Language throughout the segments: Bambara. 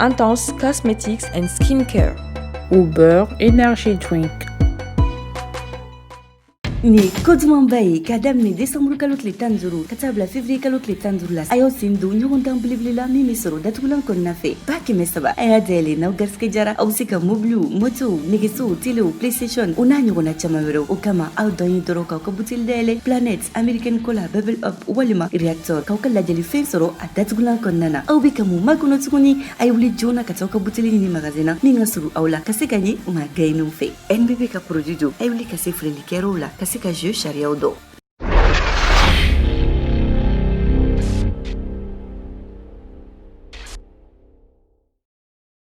Intense Cosmetics and Skincare. Uber Energy Drink. ni koduman ba ye k'a daminɛ desanburu kalo tile tan duuru ka taa bila fevriye kalo tile tan duuru la a y'aw sen don ɲɔgɔndan belebele la min be sɔrɔ datugulan kɔnɔna fɛ ba kɛmɛ saba a y'a dayɛlɛ n'aw garisigɛ jara aw be se ka mobiliw motow negesow telew playstation o n'a ɲɔgɔnna caaman wɛrɛw o kama aw dan ye dɔrɔn k'aw ka buteli dayɛlɛ Planet American Cola bubble up walima reactor k'aw ka ladiyalifɛn sɔrɔ a datugulan kɔnɔna na aw bɛ ka mun makɔnɔ tuguni a ye wuli joona ka taa aw ka buteli ɲini magazin na min ka surun aw la ka se ka jɛn maa gaɲeninw fɛ nbb ka produit don a ye wuli ka se feerelikɛyɔrɔw la ka se ka jeu sariyaw dɔn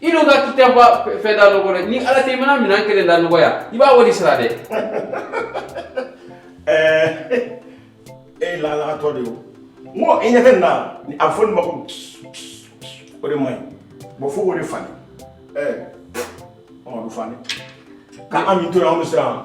i n'o ka kita ba fɛn da nɔgɔ dɛ ni ala tɛ i mana minɛn kelen da nɔgɔya i b'a wari sara dɛ ɛɛ e lalatɔ de o n ko i ɲɛ tɛ nin na a bɛ fɔ nin ma ko o de man ɲi bon fo k'o de falen ɛɛ ɔ a bɛ falen k'an min to yen an bɛ siran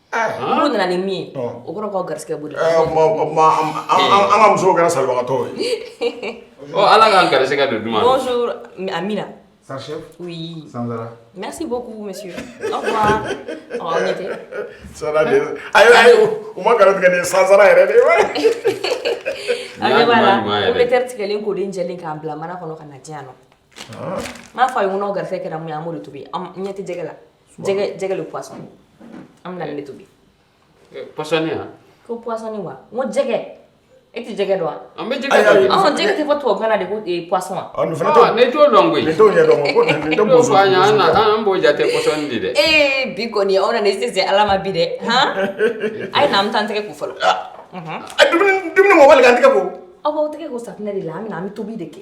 Olu nana ni min ye o kɔrɔ ka garisɛgɛ boli an ka muso kɛra sababagatɔ ye ala k'an garisɛgɛ don duman amiina merci beaucoup monsieur ma garijɛ ni sansara yɛrɛ de bɛ teri tigɛlen ko den jɛ k'a bila mana kɔnɔ ka na diya na n'a fa ye kɔnɔ gari kɛra mun ye an amadu to ɲɛ tɛjɛ la jɛgɛ jɛgɛ le poisson an bɛna nin tobi eh, poisson ya ko poisson wa n ko jɛgɛ e tɛ jɛgɛ dɔn wa an bɛ jɛgɛ dɔn ɔn jɛgɛ tɛ fɔ tubabukan na de ko eh, poisson wa ɔ nin fana t'o ne t'o dɔn koyi ne t'o ɲɛ dɔn ko nin tɛ poisson y'an na an b'o jate poisson de dɛ ee bi kɔni aw nana i se se ala ma bi dɛ han a ye na an bɛ taa an tɛgɛ ko fɔlɔ ah. mhm. a dumuni dumuni mɔbali k'an tɛgɛ ko aw b'aw tɛgɛ ko safinɛ de la an bɛ na an bɛ tobi de kɛ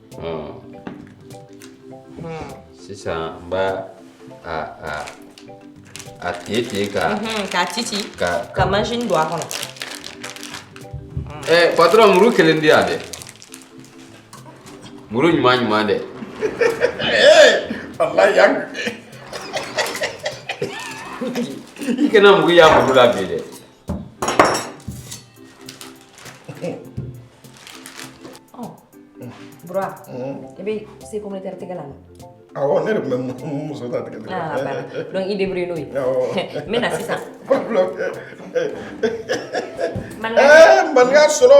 Hmm. Hmm. Sisan n b'a a a a tigɛ tigɛ ka. Mhm, k'a ci ci ka ka machin don a kɔnɔ. Ɛ eh, patɔrɔn muru kelen di yan dɛ muru ɲuman ɲuman dɛ. Eh, walayi yan. i kana mugu y'a muru la bi dɛ. Bura i bɛ se ko ne tɛ tɛgɛ la awɔ ne de tun bɛ muso ta tigɛ tigɛ ah bana donc i débrouille n'o ye awɔ n bɛ na sisan maninka sɔlɔ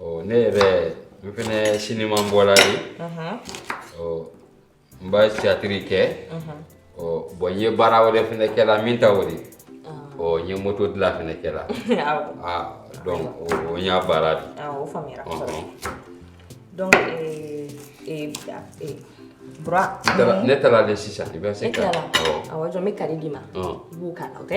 Oh, ne yɛrɛ n fɛnɛ siniman bɔla de ɔ n bɛ tiyatiri kɛ ɔ bɔn n ye baara wɛrɛ fɛnɛ kɛla min t'o di ɔ n ye moto dila fɛnɛ kɛla a donc o n ya baara di o faamuyara kosɛbɛ donc bura ne taara de sisan i bɛ se ka awɔ jɔn n bɛ kari d'i ma i b'o k'a la o tɛ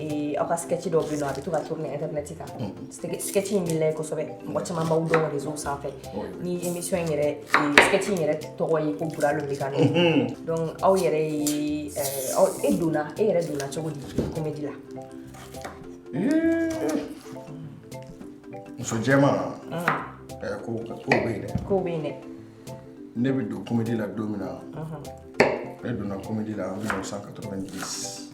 ee, aw ka sketch dɔw bɛ yen n'a bɛ to ka tourner internet kan Ske- sketch in bɛ lajɛ kosɛbɛ mɔgɔ caman b'aw dɔn réseau sanfɛ ni émission in yɛrɛ ee, sketch in yɛrɛ tɔgɔ ye ko bura lo bɛ ka nɔ donc aw yɛrɛ ye ɛɛ, aw e donna e yɛrɛ donna cogo di comédie la muso jɛman ɛ ko ko bɛ yen dɛ kow bɛ yen dɛ ne bɛ don komedi la don min na ne donna komedi la en mille neuf cent quatre-vingt-dix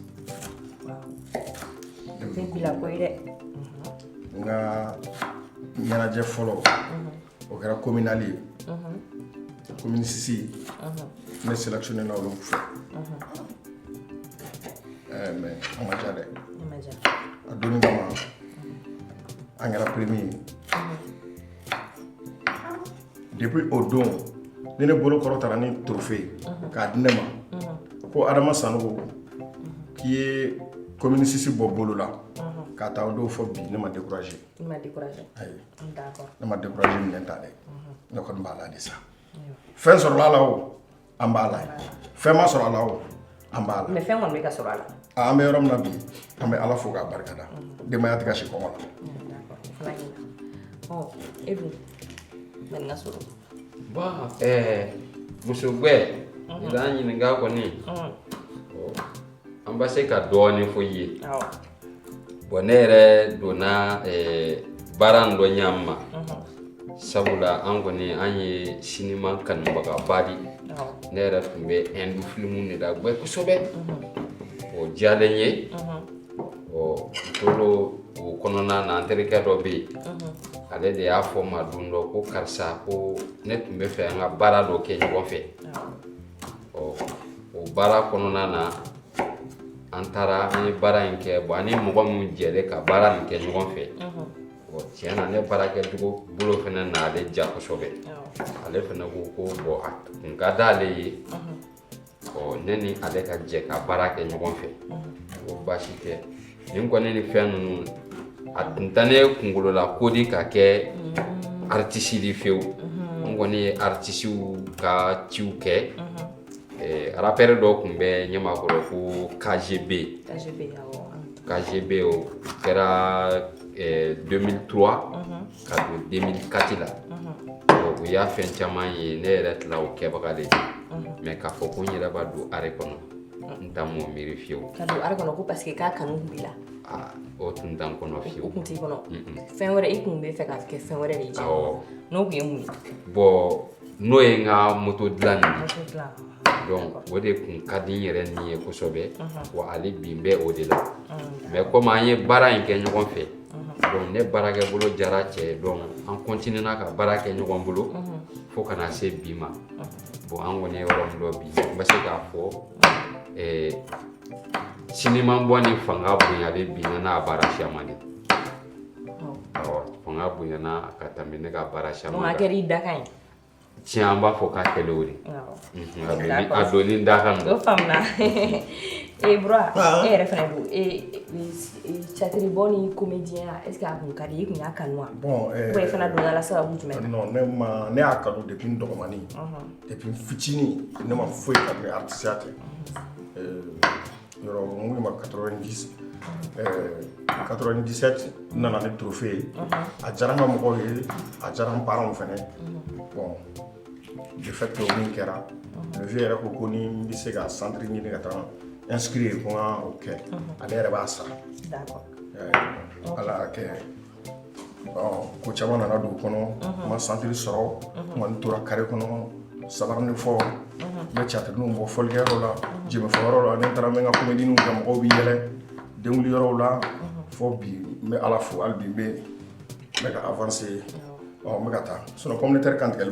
tɛ bi la ko ye dɛ n ka ɲɛnajɛ fɔlɔ o kɛra kominali ye komini sisi ne selɛkisiyonena olu fɛ mɛ a ma ja dɛ a donni kama an kɛra premier depuis o don ni ne bolo kɔrɔtara ni trophée ye mhm. k'a di ne ma mhm. ko adama sanogo mhm. k'i ye commune six bɔ bolo la k'a taa o don fɔ bi ne ma découragé ayi ne ma découragé minɛn ta dɛ ne kɔni b'a la de sa fɛn sɔrɔla la o an b'a la fɛn ma sɔrɔ a la o an b'a la mɛ fɛn kɔni bɛ ka sɔrɔ a la an bɛ yɔrɔ min na bi an bɛ ala fo k'a barika da denbaya tɛ ka si kɔngɔ la e dun mɛ n ka sɔrɔ bɔn muso gbɛ i b'an ɲininka kɔni an bɛ se ka dɔɔnin fɔ i ye bɔn ne yɛrɛ donna eh, baara in dɔ ɲa min ma sabula an kɔni an ye sinima kanubagaba di ne yɛrɛ tun bɛ ɛndu filimu de lagbɛ kosɛbɛ o diyalen n ye ɔ tola o kɔnɔna na an terikɛ dɔ bɛ yen ale de y'a fɔ n ma don dɔ ko karisa ko ne tun b'a fɛ an ka baara dɔ kɛ ɲɔgɔn fɛ ɔ o baara kɔnɔna na an taara an ye baara in kɛ bon an ni mɔgɔ minnu jɛlen ka baara in kɛ ɲɔgɔn fɛ bon tiɲɛ na ne baara kɛcogo bolo fana n'ale ja kosɛbɛ ale fana ko ko bon a tun ka d'ale ye ɔ ne ni ale ka jɛ ka baara kɛ ɲɔgɔn fɛ ko baasi tɛ nin kɔni ni fɛn ninnu a tun tɛ ne kunkolo la ko di ka kɛ aritisi di fewu n kɔni ye aritisiw ka ciw kɛ Eh, rapɛri dɔ tun bɛ Ɲamakɔrɔ ko KGB KGB o kɛra 2003 ka don 2004 la u y'a fɛn caman ye ne yɛrɛ tila o kɛbaga de ye mais k'a fɔ ko n yɛrɛ b'a don art kɔnɔ n tun m'o miiri fiyewu ka don art kɔnɔ ko parce que k'a kanu tun b'i la o tun t'an kɔnɔ fiyewu o tun t'i kɔnɔ fɛn wɛrɛ i tun bɛ fɛ ka kɛ fɛn wɛrɛ de ye n'o tun ye mun ye bon n'o ye n ka moto dilan nin ye donc o de kun ka di n yɛrɛ ni ye kosɛbɛ wa hali bi n bɛ o de la mais komi an ye baara in kɛ ɲɔgɔn fɛ donc ne baarakɛ bolo diyara cɛ ye donc an continuena ka baara kɛ ɲɔgɔn bolo fo ka na se bi ma bon an kɔni ye yɔrɔ min dɔ bi n bɛ se k'a fɔ sinimanbɔ ni fanga bonyalen bi n na baara siyaman di fanga bonyana ka tɛmɛ ne ka baara caman kan. A kɛra i dakan ye. Tiɲɛ an b'a fɔ k'a kɛlen o di. A donni n dakan. O faamuna. Ee Bura e yɛrɛ fana don tiyatiribɔ ni komediyɛnya est ce que a kun ka di i ye i kun y'a kanu wa? Bon ɛɛ. Ou bien i donna a la sababu jumɛn na? Non ne ma ne y'a kanu depuis n dɔgɔmannin depuis n fitinin ne ma foyi kanu n'artisiya tɛ. yɔrɔ mun de ma 90 97 n nana ni trophée ye a diyara n ka mɔgɔw ye a diyara n parents fɛnɛ bon de fait que o min kɛra le vieux yɛrɛ ko ko ni n bɛ se ka centre ɲini ka taa n inscrire ko n ka o kɛ ale yɛrɛ b'a sara D'accord. Euh, ala y'a kɛ ko caman nana dugu kɔnɔ n ma santiri sɔrɔ mais n tora kare kɔnɔ sabarinin fɔ bɛ tiyatirininw bɔ fɔlikɛ yɔrɔ la jenbefɔ yɔrɔ la ne taara min ka komedininw kɛ mɔgɔw bɛ yɛlɛ den yɔrɔw la fɔ bi n bɛ a la fo bi bɛ ne ka avancer ye bɛ ka taa s kɔn tɛ kan tigɛ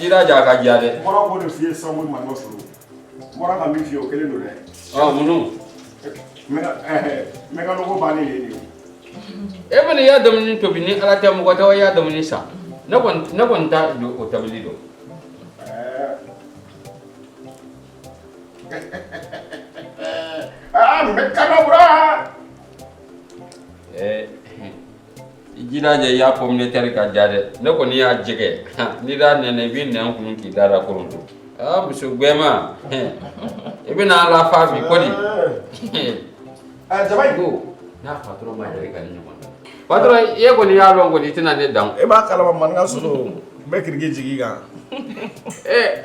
jira ka diya dɛ n bɔra ka min f'i ye o kelen don dɛ. ɔ minnu. mɛkanoko bannen ye nin ye. e kɔni ya dumuni tobi ni ala tɛ mɔgɔ t'i ya dumuni san ne kɔni ne kɔni t'a don o tobili dɔn. aa mɛkanakura. ɛɛ. i jija i ya pɔmutɛri ka diya dɛ ne kɔni ya jɛgɛ n'i d'a nɛnɛ i b'i nɛn kunu k'i da da koronto aa muso gbɛma i bɛna a lafa bi kɔni jaba in ko n'a patɔrɔn ma yɛrɛ ka ni ɲɔgɔn na patɔrɔn i ye kɔni y'a dɔn kɔni i tɛna ne dan e b'a kalama maninka soso n bɛ kiriki jigin i kan ee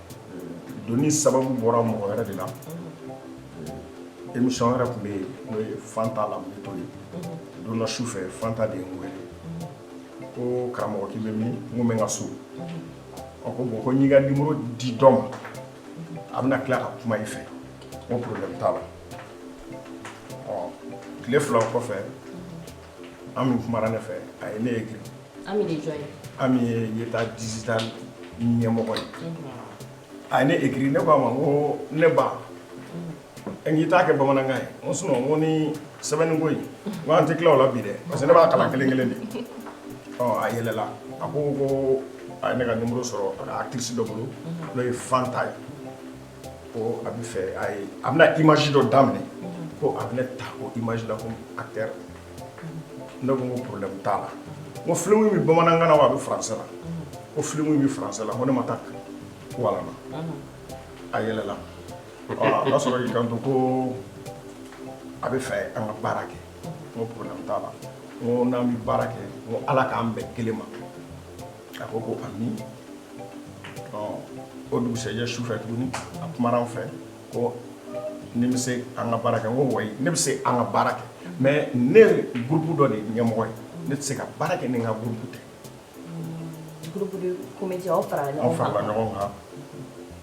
doni sababu bɔra mɔgɔ wɛrɛ de la émission wɛrɛ tun bɛ yen n'o ye fanta lamito ye don dɔ su fɛ fanta de ye n wele ko karamɔgɔ k'i bɛ min n ko n bɛ n ka so ɔ ko bɔn ko n y'i ka nimoro di dɔ ma a bɛna tila ka kuma i fɛ n ko problème t'a la ɔ tile fila kɔfɛ ami kumara ne fɛ a ye ne ekiri Ami ye jɔn ye ami ye ɲɛtaa digital ɲɛmɔgɔ ye a ye ne ekiri ne y'a fɔ a ma n ko ne ba n'i t'a kɛ bamanankan ye o son na n ko ni sɛbɛnni ko ko an tɛ tila o la bi dɛ parce que ne b'a kalan kelen kelen de ɔ a yɛlɛla a ko ko a ye ne ka nimoro sɔrɔ actrice dɔ bolo n'o ye fanta ye ko a b'a fɛ a ye a bɛna image dɔ daminɛ ko a bɛ ne ta o image la comme acteur ne ko n ko problème t'a la n ko film in bɛ bamanankan na wa a bɛ français la ko film in bɛ français la n ko ne ma taa kalan na a yɛlɛla a ka sɔrɔ k'i kanto ko a b'a fɛ an ka baara kɛ n ko problème t'a la n ko n'an bɛ baara kɛ n ko ala k'an bɛn kelen ma a ko ko amiina o dugusɛjɛ su fɛ tuguni a kumara n fɛ ko ne bɛ se an ka baara kɛ n ko ouais ne bɛ se an ka baara kɛ mais ne gurupu dɔ de ye ɲɛmɔgɔ ye ne tɛ se ka baara kɛ ni n ka gurupu tɛ aw farala ɲɔgɔn kan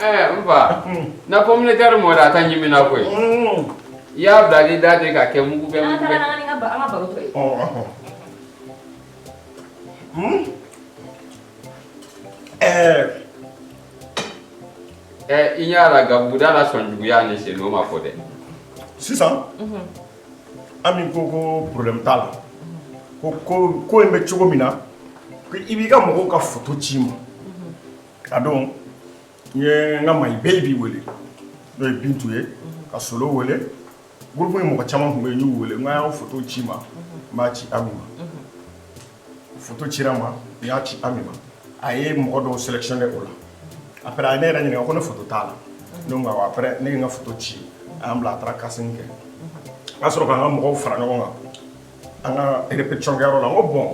Ɛɛ n fa na communautaire mɔn a ka ɲimi na koyi i y'a bila ni da de ka kɛ mugu bɛ mugu bɛ ɛɛ ɛɛ i y'a la gabuguda la sɔn juguyaya ni sen o ma fɔ dɛ sisan ami ko ko problème t'a la ko ko ko in bɛ cogo min na i b'i ka mɔgɔw ka foto ci n ma A don n ye n ka maa bɛɛ b'i wele n'o ye bintu ye ka solo wele buruugu ye mɔgɔ caman tun bɛ y'u wele n'a y'a foto ci n ma n b'a ci an ma ci ma i y'a ci an ma a ye mɔgɔ dɔw sélectionner o la a a ye ne yɛrɛ ɲini ko ne t'a la ne n ka ci a bila a taara ka kɛ o'a sɔrɔ k'an ka mɔgɔw fara ɲɔgɔn kan an ka yɔrɔ la ko bɔn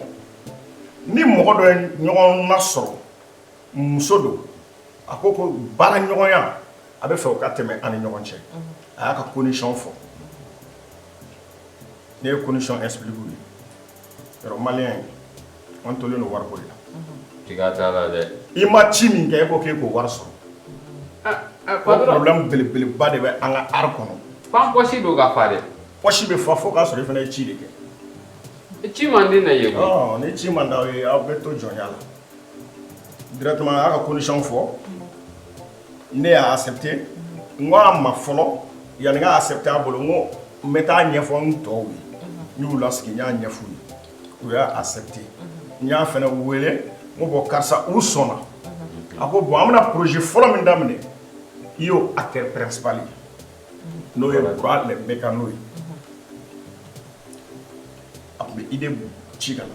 ni mɔgɔ dɔ ɲɔgɔn ma sɔrɔ muso don a ko ko baara ɲɔgɔnya a b'a fɛ o ka tɛmɛ an ni ɲɔgɔn cɛ a y'a ka kosi fɔ ne ye kosɔn esfilibu ye yɔrɔ mali ye an tolen don wariko la la dɛ i ma ci min kɛ e ko k'e k'o wari sɔrɔ belebeleba de bɛ an ka ara kɔnɔsi don ka fa dɛsi bɛ fa fo k'a sɔrɔ i fana ye ci de kɛ ci mande na ye ni ci man aw ye aw bɛ to jɔnya la directement a y'a ka condition fɔ ne y'a accepter n ko a ma fɔlɔ yanni n ka accepter a bolo n ko n bɛ taa ɲɛfɔ n tɔw ye n y'u lasigi n y'a ɲɛf'u ye u y'a accepter n y'a fɛnɛ wele n ko bɔn karisa u sɔnna a ko bɔn an bɛna projet fɔlɔ min daminɛ i y'o acteur principal ye n'o ye Bura le Mécano ye a tun bɛ idée ci ka na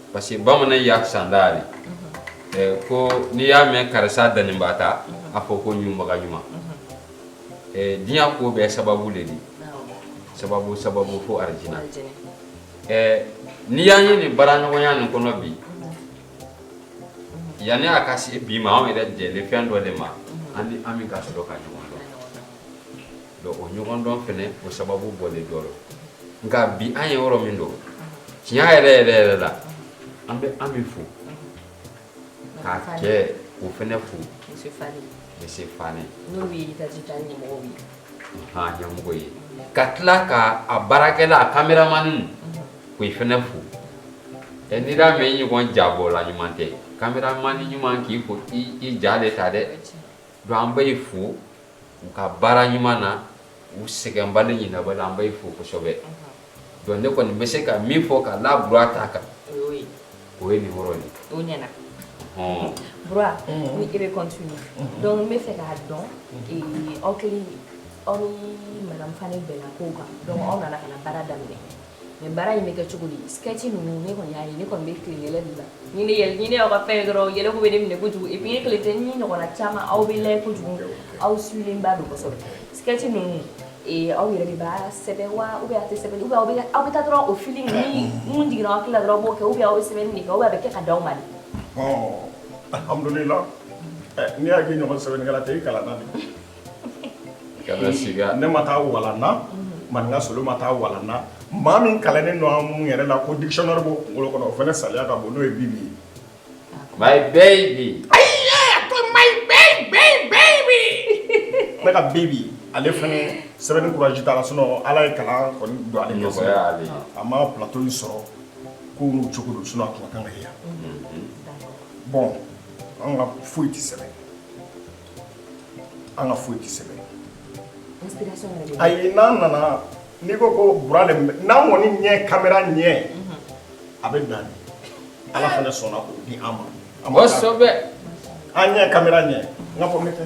parce que bamanan y'a sanda de eh, ko n'i y'a mɛn karisa doninba ta a fɔ ko ɲunbaga ɲuman eh, diɲɛ ko bɛɛ sababu le di sababu sababu fo arijina eh, n'i y'an ye nin baaraɲɔgɔnya nin kɔnɔ bi yanni a ka se bi ma anw yɛrɛ jɛlen fɛn dɔ le ma an ni an min ka sɔrɔ ka ɲɔgɔn donc o ɲɔgɔndɔn fɛnɛ o sababu bɔlen dɔ don nka bi an ye yɔrɔ min don tiɲɛ yɛrɛ yɛrɛ yɛrɛ la an bɛ an min fo k'a kɛ o fɛnɛ fo monsieur Fane n'o ye yitaji ta ɲɛmɔgɔ ye han ɲɛmɔgɔ ye ka tila ka a baarakɛla a kameramani k'o fɛnɛ fo ɛ n'i y'a mɛn i ɲɔgɔn jabɔla ɲuman tɛ kameramani ɲuman k'i fo i i ja de ta dɛ donc an bɛ i fo u ka baara ɲuman na u sɛgɛnbali ɲin bɛ an bɛ fo kosɛbɛ donc ne kɔni bɛ se ka min fɔ k'a la Bura ta kan o ye nin yɔrɔ ye hɔn ne bɛ donc b'a fɛ k'a dɔn aw kɛlen aw mafa bɛn ko kan aw nana ka baara daminɛ Mais baara in bɛ kɛ cogo di sɛti ninnu ne kɔni y'a ye ne kɔni bɛ tile yɛlɛ de la ni ne yɛlɛ ɲinin aw ka fɛn dɔrɔn yɛlɛ bɛ ne minɛ kojugu i ye tile tɛ ni ɲɔgɔnna caman aw bɛ la kojugu aw sigilenlenba don kɔsɔ sɛti ninnu aw yɛrɛ de b'a sɛbɛn wa aw bɛ tɛ sɛbɛn aw aw bɛ taa dɔrɔn o fini minnu jiginna aw tilala dɔrɔn b'o kɛ aw bɛ aw sɛbɛn nin aw bɛ kɛ ka di aw ma n'i y'a kɛ ɲɔgɔn sɛbɛn tɛ i kalan ne ma taa walan na Maninka Solo ma taa walan na maa min kalannen don an minnu yɛrɛ la ko dictionnaire b'o kunkolo kɔnɔ o fana salaya ka bon n'o ye Bibi ye my baby ne ka Bibi ale fana sɛbɛnni courage t'a la sinon Ala ye kalan kɔni don ale gɛrɛsɛgɛ nɔgɔya ale ye a ma plateau in sɔrɔ ko n'o cogo don sinon a tun ka kan ka ye yan bon anw ka foyi tɛ sɛbɛn an ka foyi tɛ sɛbɛn ayi n'an nana n'i ko ko Bura le n'an kɔni ye kamera ye mhm. a bɛ dan Ala fana sɔnna k'o di an ma kosɛbɛ an ye kamera ye n ka fɔ n bɛ tɛ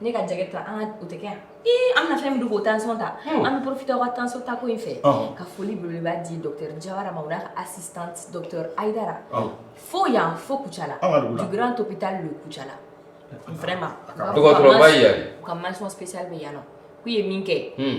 ne ka jɛgɛ ta an ka o tɛ kɛ yan ii an bɛna fɛn min don k'o tension ta Hmm. an bɛ profite aw ka tension ta ko in fɛ Ɔhɔn. ka foli belebeleba di docteur jawara ma o n'a ka assistante docteur aidara Ɔhɔn. fo yan fo kucala An ka dugu la. du grand hôpital de kucala vraiment Dɔgɔtɔrɔba ye yan. u ka mention spéciale bɛ yan nɔ k'u ye min kɛ Hmm.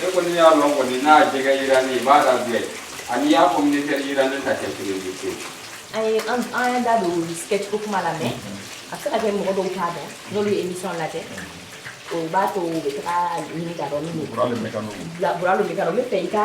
ne kɔni y'a lɔn kɔni n'a jɛgɛ yira ne b'a lajɛ ani y'a fɔ ne tɛ yira ne ta kɛ kelen ye pewu. an ye an y'an da don sketch ko kuma la mais a bɛ se ka kɛ mɔgɔ dɔw t'a dɔn n'olu ye émission lajɛ o b'a to u bɛ taga a ɲini k'a dɔn min don. bura le mekano. bura le mekano n bɛ fɛ i ka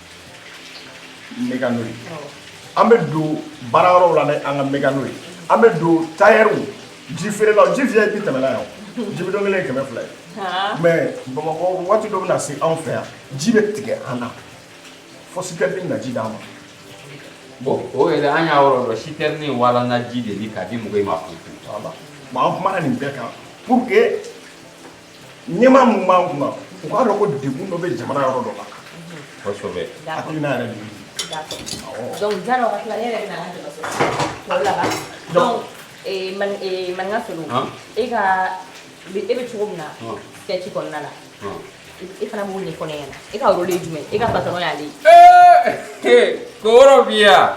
mekano ye an bɛ don baara yɔrɔw la an ka mekano ye an bɛ don tayɛriw ji feerelaw ji fiyɛ i tɛ tɛmɛna yan ji bidɔn kelen kɛmɛ fila ye mais bamakɔ waati dɔ bɛna se anw fɛ yan ji bɛ tigɛ an na fo sitɛrini na ji d'an ma bon o yɛrɛ an y'a yɔrɔ dɔn sitɛrini walana ji de bi k'a di mɔgɔ ma fo an kumana nin bɛɛ kan pour que ɲɛmaa min b'an kunna u k'a dɔn ko degun dɔ bɛ jamana yɔrɔ dɔ la kosɛbɛ hakilina yɛrɛ de ye donc diɲɛ na o ka tila ne yɛrɛ bɛ na an ka dɛmɛ sɔrɔ tɔw laban donc maninka solo e ka e bɛ cogo min na sketch kɔnɔna la e fana b'o ɲɛfɔ ne ɲɛna e ka rôle ye jumɛn e ka patɔrɔn y'ale ye ko yɔrɔ bi yan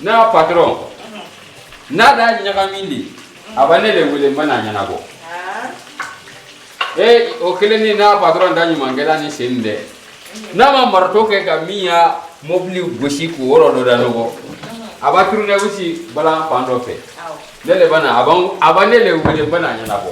ne ya patɔrɔn n'a da ɲagami de a bɛ ne de wele n bɛ n'a ɲɛnabɔ ee o kelen ni n'a patɔrɔn da ɲuman kɛra ni sen dɛ n'a ma marato kɛ ka min ya mobili gosi k'o yɔrɔ dɔ da nɔgɔ a bɛ turunɛwisi balan fan dɔ fɛ ne de bɛ na a b'an a bɛ ne de wele n bɛ n'a ɲɛnabɔ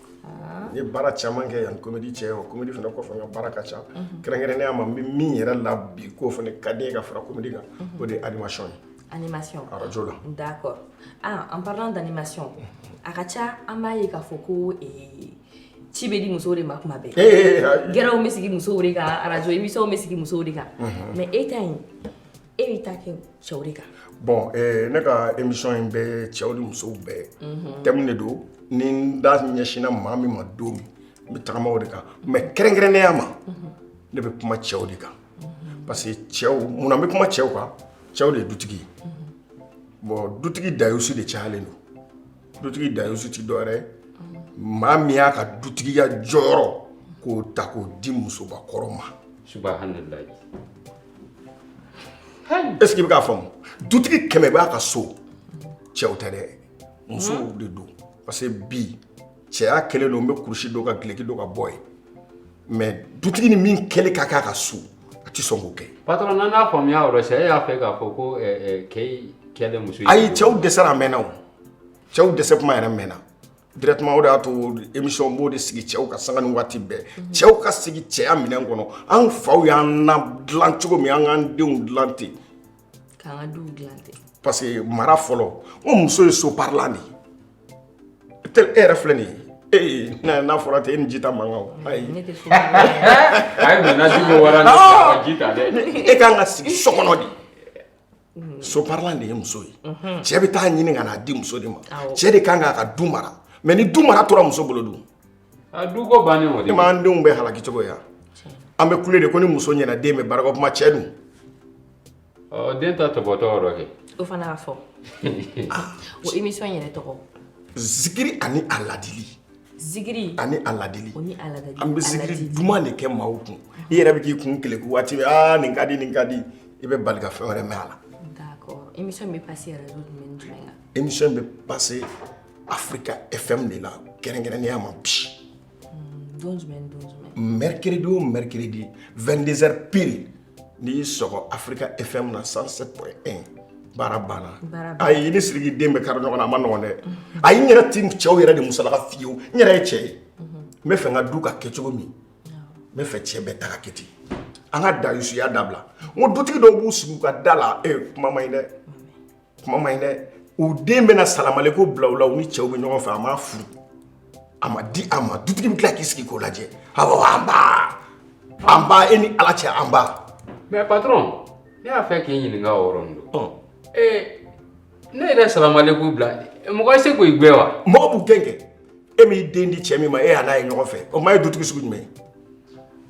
n ye baara caman kɛ yan komedi cɛ o komedi fana kɔfɛ n ka baara ka ca kɛrɛnkɛrɛnnenya ma n bɛ min yɛrɛ la bi k'o fana ka di n ye ka fara komedi kan o de ye animation ye animation arajo la d'accord ah en parlant d'animation a ka ca an b'a ye k'a fɔ ko eh, ci bɛ di musow de ma kuma bɛɛ Eh, eh, eh, gɛrɛw bɛ sigi musow de kan arajo émission bɛ sigi musow de kan mais e ta in e b'i ta kɛ cɛw de kan bon eh, ne ka émission in bɛ cɛw ni musow bɛɛ Mhm. thème de don ni n da ɲɛsinna maa min ma don min n bɛ tagama o de kan mais kɛrɛnkɛrɛnnenya ma ne bɛ kuma cɛw de kan parce que cɛw munna n bɛ kuma cɛw kan cɛw de ye dutigi ye bon dutigi dayusu de cayalen don dutigi dayusu ti dɔwɛrɛ ye maa min y'a ka dutigiya jɔyɔrɔ k'o ta k'o di musobakɔrɔ ma subahanallahi est-ce que i bɛ k'a faamu dutigi kɛmɛ b'a ka so cɛw tɛ dɛ musow de don parce que bi cɛya kɛlen don n bɛ kurusi don ka duloki don ka bɔ yen mais dutigi ni min kɛli ka kan a ka so a tɛ sɔn k'o kɛ patron n'an y'a faamuya o la c'est e y'a fɛ k'a fɔ ko keyi kɛlen muso ye ayi cɛw dɛsɛra a mɛnna o cɛw dɛsɛ kuma yɛrɛ mɛnna directement o de y'a to émission b'o de sigi cɛw ka sanga ni waati bɛɛ cɛw ka sigi cɛya minɛn kɔnɔ an faw y'an ladilan cogo min an k'an denw dilan ten parce que mara fɔlɔ o muso ye so parilan de e yɛrɛ filɛ nin ye ee n'a fɔra tɛ e ni ji ta man kan e ka kan ka sigi so kɔnɔ de so parilan de ye muso ye cɛ bɛ taa ɲini ka na a di muso de ma cɛ de ka kan ka du mara mais ni du mara tora muso bolo dun du denw bɛ halaki cogo yan an bɛ kule de ko ni muso ɲɛna den bɛ barika kuma cɛ dun den ta tɔ tɔgɔ kɛ o fana fɔ émission yɛrɛ tɔgɔ zikiri ani a ladili Zikiri ani a ladili o ni a ladili an bɛ zikiri duman de kɛ maaw kun i yɛrɛ bɛ k'i kun keleku waati bɛɛ aa nin ka di nin ka di i bɛ bali ka fɛn wɛrɛ mɛn a la d'accord émission bɛ passer radio jumɛn ni jumɛn kan émission bɛ passer Africa FM de la kɛrɛnkɛrɛnnenya ma bi don jumɛn ni don jumɛn mercredi o mercredi 22 heures pile n'i y'i sɔgɔ Africa FM na 107.1 baara banna ayi i ni siriki den bɛ kari ɲɔgɔn na a man nɔgɔn dɛ ayi n yɛrɛ ti cɛw yɛrɛ de musalaka fiyewu n yɛrɛ ye cɛ ye n b'a fɛ n ka du ka kɛ cogo min n b'a fɛ cɛ bɛɛ ta ka kɛ ten an ka dayusuya dabila n ko dutigi dɔw b'u sigi u ka da la e kuma man ɲi dɛ kuma man ɲi dɛ u den bɛ na salamalekum bila u la u ni cɛw bɛ ɲɔgɔn fɛ a ma furu a ma di a ma dutigi bɛ tila k'i sigi k'o lajɛ awɔ nba nba e ni ala cɛ nba. mais patron ne y'a fɛ k'i ɲininka o yɔrɔnin don. ee ne yɛrɛ salamalekum bila mɔgɔ tɛ se k'u gɛn wa. mɔgɔ b'u gɛn kɛ e m'i den di cɛ min ma e y'a n'a ye ɲɔgɔn fɛ o maa ye dutigi sugu jumɛn ye.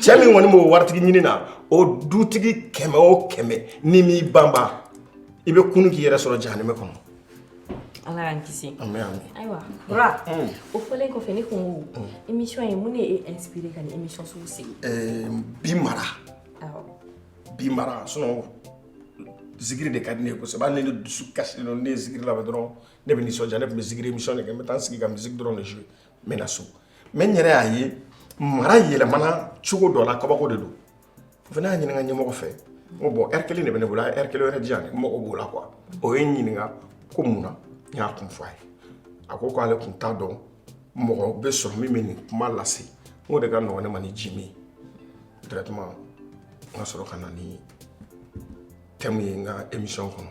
cɛ min kɔni b'o waritigi ɲini na o dutigi kɛmɛ o kɛmɛ n'i m'i banba i bɛ kunun k'i yɛrɛ sɔrɔ jahanɛmɛ kɔnɔ ala y'an kisi ami ami ayiwa bura mm. o fɔlen kɔfɛ ne kun ko mm. émission ye mun de y'i inspiré ka nin émission sugu sigi eh, bi mara bi mara sinon zikiri de ka di ne ye kosɛbɛ hali ne dusu kasilen don ne ye zikiri lamɛn dɔrɔn ne bɛ nisɔndiya ne tun bɛ zikiri émission de kɛ n bɛ taa n sigi ka musique dɔrɔn de jouer mɛ na so mɛ n yɛrɛ y'a ye mara yɛlɛmana cogo dɔ la kabako de don o fana y'a ɲininka ɲɛmɔgɔ fɛ ko bɔn ɛri kelen de bɛ ne bolo a ɛri kelen wɛrɛ di yan n mago b'o la kuwa o ye n ɲininka ko mun na n y'a kun fɔ a ye a ko k'ale kun t'a dɔn mɔgɔ bɛ sɔrɔ min bɛ nin kuma lase n ko o de ka nɔgɔn ne ma ni ji min directement n ka sɔrɔ ka na ni tɛmu ye n ka émission kɔnɔ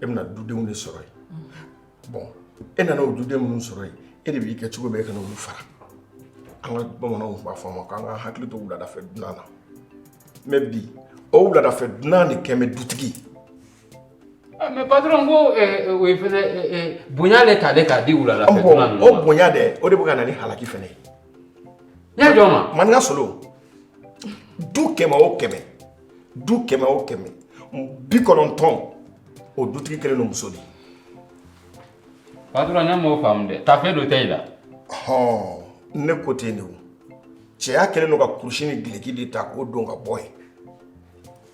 e bɛna dudenw de sɔrɔ yen bɔn e nana o duden minnu sɔrɔ yen e de b'i kɛ cogo bɛɛ e kana olu fara an ka bamananw b'a fɔ a ma k'an ka hakili to wuladafɛ dunan na mɛ bi o wuladafɛ dunan de kɛ bɛ dutigi ah, mɛ patron ko eh, eh, o ye fɛnɛ eh, bonya de talen k'a di wuladafɛ dunan ninnu ma o bonya dɛ o de bɛ ka na ni halaki fɛnɛ ye n y'a jɔ ma maninka solo du kɛmɛ o kɛmɛ du kɛmɛ o kɛmɛ bi kɔnɔntɔn o dutigi kɛlen don muso de ye patɔrɔn ne m'o faamu dɛ tafe don tɛ i la hɔn ne ko ten de o cɛya kɛlen don ka kurusi ni gileki de ta k'o don ka bɔ ye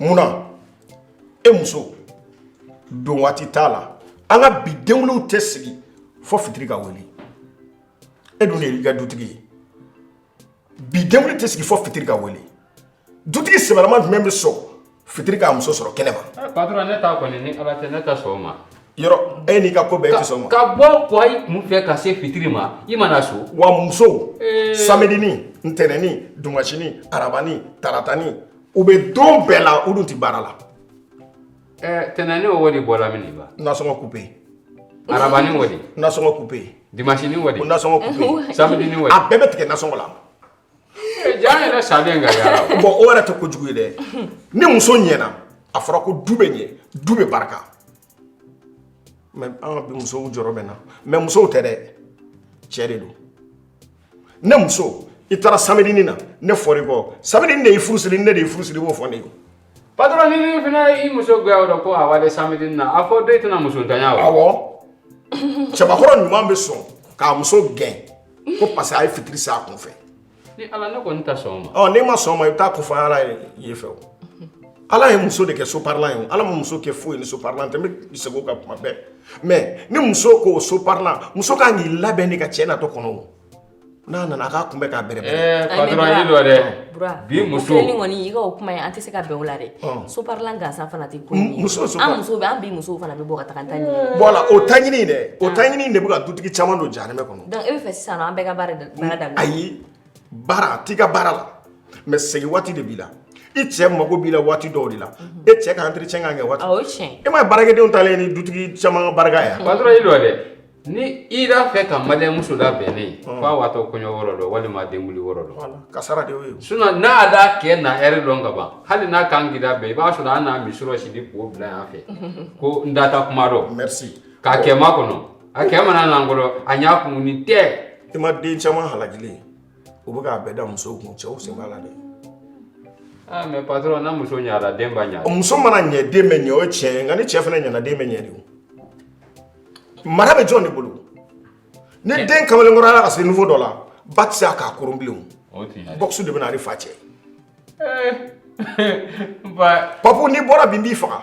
munna e muso don waati t'a la an ka bi denwolow tɛ sigi fo fitiri ka wele e dun de y'i ka dutigi ye bi denwolo tɛ sigi fo fitiri ka wele dutigi sɛbɛlama jumɛn bɛ sɔn fitiri k'a muso sɔrɔ kɛnɛ ma Eh, patron ne ta kɔni ni ala tɛ ne tɛ sɔn o ma yɔrɔ e n'i ka ko bɛɛ tɛ sɔn o ma ka bɔ kɔyi kun fɛ ka se fitiri ma i ma na so wa muso Eh. samedini ntɛnɛni dimasini arabani taratani u bɛ don bɛɛ la u dun tɛ baara la Ɛɛ ntɛnɛni o de bɔra min ba nasɔngɔ kupe arabani o nasɔngɔ kupe dimasinin o nasɔngɔ kupe sa a bɛɛ bɛ tigɛ nasɔngɔ la jaa yɛrɛ sa ka bɔn o yɛrɛ tɛ ko jugu ye dɛ ni muso ɲɛna a fɔra ko du bɛ ɲɛ du bɛ barika mɛ an ka bi musow jɔrɔ bɛ n na mɛ musow tɛ dɛ cɛ de don ne muso i taara samedini na ne fɔra i kɔ samedini de y'i furu siri ne de y'i furu siri i b'o fɔ ne ye patɔrɔn ni ne fana i muso goya o la ko a walen samedini na a fɔ do i tɛna musontanya wa awɔ cɛbakɔrɔ jumɛn bɛ sɔn k'a muso gɛn ko parce que a ye fitiri se a kun fɛ ni ala ne kɔni tɛ sɔn o ma ɔ n'i ma sɔn o ma i bɛ taa k'o fɔ ala ye yen fɛ o ala ye muso de kɛ soparilan ye o ala ma muso kɛ foyi ni soparilan tɛ n bɛ segin o kan tuma bɛɛ mɛ ni muso ko o soparilan muso ka kan k'i labɛn i ka cɛ natɔ kɔnɔ n'a nana k'a kunbɛn k'a bɛrɛ bi muso kɔni i o kuma ye an tɛ se ka bɛn a la dɛ so la gansan fana tɛ muso muso an bi muso fana bɛ bɔ ka taa ta la o ta ɲini dɛ o ta ɲini de bɛ ka dutigi caman don jahanama kɔnɔ e bɛ fɛ sisan an bɛɛ ka baara da ayi baara a t'i ka baara la mɛ segin waati de b'i la i cɛ mago b'i la waati dɔw de la e cɛ ka entretien kan ka kɛ waati Awɔ, o ye tiɲɛ ye. e m'a ye baarakɛdenw talen ye ni dutigi caman ka barika ye a? patɔrɔn i dɔ dɛ ni i b'a fɛ ka maliyɛn muso labɛnnen ye f'a waatɔ kɔɲɔ yɔrɔ dɔ walima denkunli yɔrɔ dɔ kasara de y'o ye sinɔn n'a d'a kɛ na hɛrɛ dɔn ka ban hali n'a kan k'i labɛn i b'a sɔrɔ a n'a misɔrɔ siri k'o bila yan fɛ ko n data kuma dɔn merci k'a kɛ ma kɔnɔ A kɛ mana nan kɔrɔ a ɲ'a kun ni tɛ i ma den caman halakilen u bɛ k'a bɛɛ da musow kun cɛw sen b'a la dɛ Ah, mais patron na muso ɲala den ba ɲala. muso mana ɲɛ den bɛ ɲɛ o ye tiɲɛ ye nka ni cɛ fana ɲɛna den bɛ ɲɛ de o mara bɛ jɔn de bolo ni den kamalenkɔrɔyala ka se niveau dɔ la ba tɛ se k'a koron bilen o bɔkisi de bɛ na ale fa cɛ papu n'i bɔra bi n b'i faga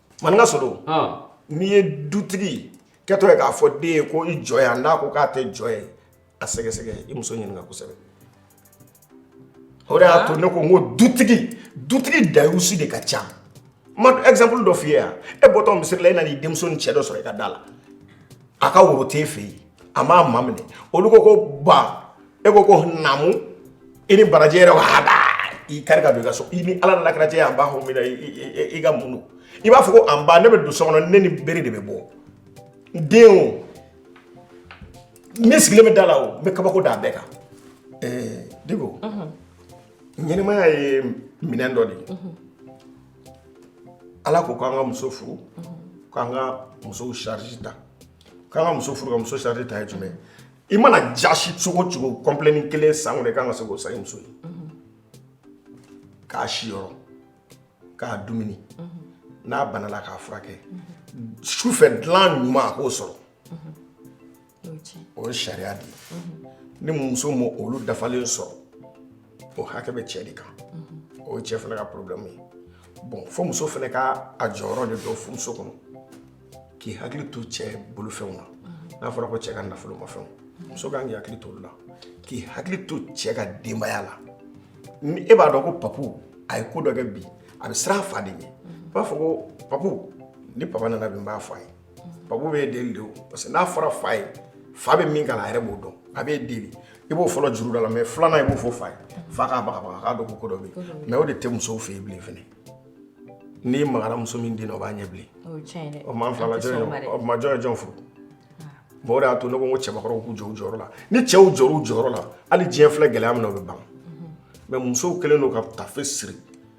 maninka solo n'i ye dutigi kɛtɔ ye k'a fɔ den ye ko i jɔ yan n'a ko k'a tɛ jɔ yen a sɛgɛsɛgɛ i muso ɲininka kosɛbɛ o de y'a to ne ko n ko dutigi dutigi dayusi de ka ca n b'a exemple dɔ f'i ye yan e bɔtɔ misiri la e nan'i denmuso ni cɛ dɔ sɔrɔ i ka da la a ka woro t'e fɛ yen a m'a maminɛ olu ko ko ba e ko ko namu i ni baraji yɛrɛ ko hada i kari ka don i ka so i ni ala mana kɛnɛ jɛ a b'a fɔ min na i ka mun don i b'a fɔ ko an ba ne bɛ don so kɔnɔ ne ni bere de bɛ bɔ den o min sigilen bɛ da la o n bɛ kabako da a bɛɛ kan ɛɛ diko ɲɛnamaya ye minɛn dɔ de ye Ala ko k'an ka muso furu k'an ka musow charge ta k'an ka muso furu ka muso charge ta ye jumɛn i mana jaasi cogo cogo kɔnplɛnin kelen san kɔnɔ i ka kan ka se k'o san i muso ye k'a siyɔrɔ k'a dumuni n'a banala k'a furakɛ su fɛ dilan ɲuman a k'o sɔrɔ o ye sariya de ye ni muso ma olu dafalen sɔrɔ o hakɛ bɛ cɛ de kan o ye cɛ fana ka problème ye bon fo muso fana ka a jɔyɔrɔ de dɔn furuso kɔnɔ k'i hakili to cɛ bolofɛnw na n'a fɔra ko cɛ ka nafolomafɛnw muso kan k'i hakili to olu la k'i hakili to cɛ ka denbaya la ni e b'a dɔn ko papu a ye ko dɔ kɛ bi a bɛ siran a fa de ɲɛ i b'a fɔ ko papu ni papa nana bi n b'a fɔ a ye ba bɛ den don parce que n'a fɔra fa ye fa bɛ min kɛ a yɛrɛ b'o dɔn a bɛ den i b'o fɔlɔ juru da la mɛ filanan i b'o fɔ fa ye fa k'a k'a dɔn ko ko dɔ bɛ mɛ o de tɛ musow fɛ yen bilen fana n'i magara muso min den o b'a ɲɛ bilen o maa fila majɔ ye jɔn furu mɔgɔ de y'a to ne ko ko cɛbakɔrɔw k'u jɔ u jɔyɔrɔ la ni cɛw jɔra u jɔyɔrɔ la hali diɲɛ filɛ gɛlɛya min na o bɛ ban mɛ musow kɛlen don ka tafe siri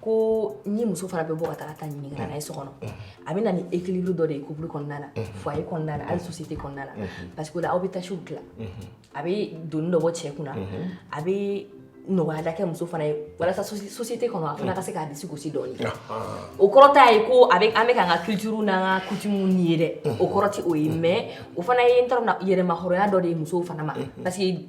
ko ni muso fana bɛ bɔ ka taa ta ɲini ka na n'a ye so kɔnɔ a bɛ na ni équilibre dɔ de ye couple kɔnɔna na foyer kɔnɔna na hali société kɔnɔna na parce que o la aw bɛ tâches tilan a bɛ doni dɔ bɔ cɛ kunna a bɛ nɔgɔya dɔ kɛ muso fana ye walasa société kɔnɔ a fana ka se k'a disi gosi dɔɔni o kɔrɔ t'a ye ko a bɛ an bɛ k'an ka culture n'an ka coutume nier dɛ o kɔrɔ tɛ o ye mais o fana ye n t'a dɔn yɛrɛmahɔrɔnya dɔ de ye musow fana ma parce que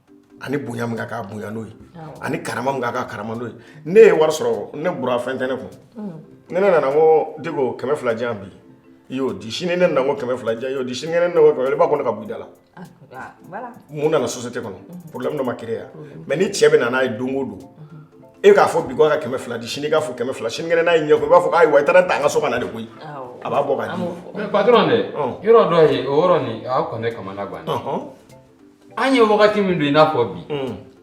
ani bonya min k'a bonya n'o ye ani kara min k'a kara n'o ye ne ye wari sɔrɔ ne bɔra fɛn tɛ ne kun mm. ne ne nana ko de ko kɛmɛ fila di yan bi i y'o di sini ne nana ko kɛmɛ fila di yan y'o di sini ne nana ko i b'a ko ne ka b'i da la ah, ah, mun nana société kɔnɔ mm-hmm. problème dɔ ma créer yan mm-hmm. mais ni cɛ bɛ na n'a ye don o don mm-hmm. e k'a fɔ bi ko ka kɛmɛ fila di sini k'a fɔ kɛmɛ fila sini kɛnɛ n'a ye ɲɛ ko i b'a fɔ ayiwa i taara ta an ka so ka na de koyi a b'a bɔ ka di mais patron de yɔrɔ dɔ ye o yɔrɔ nin a kɔni kamana gan an ye wagati min don i n'a fɔ bi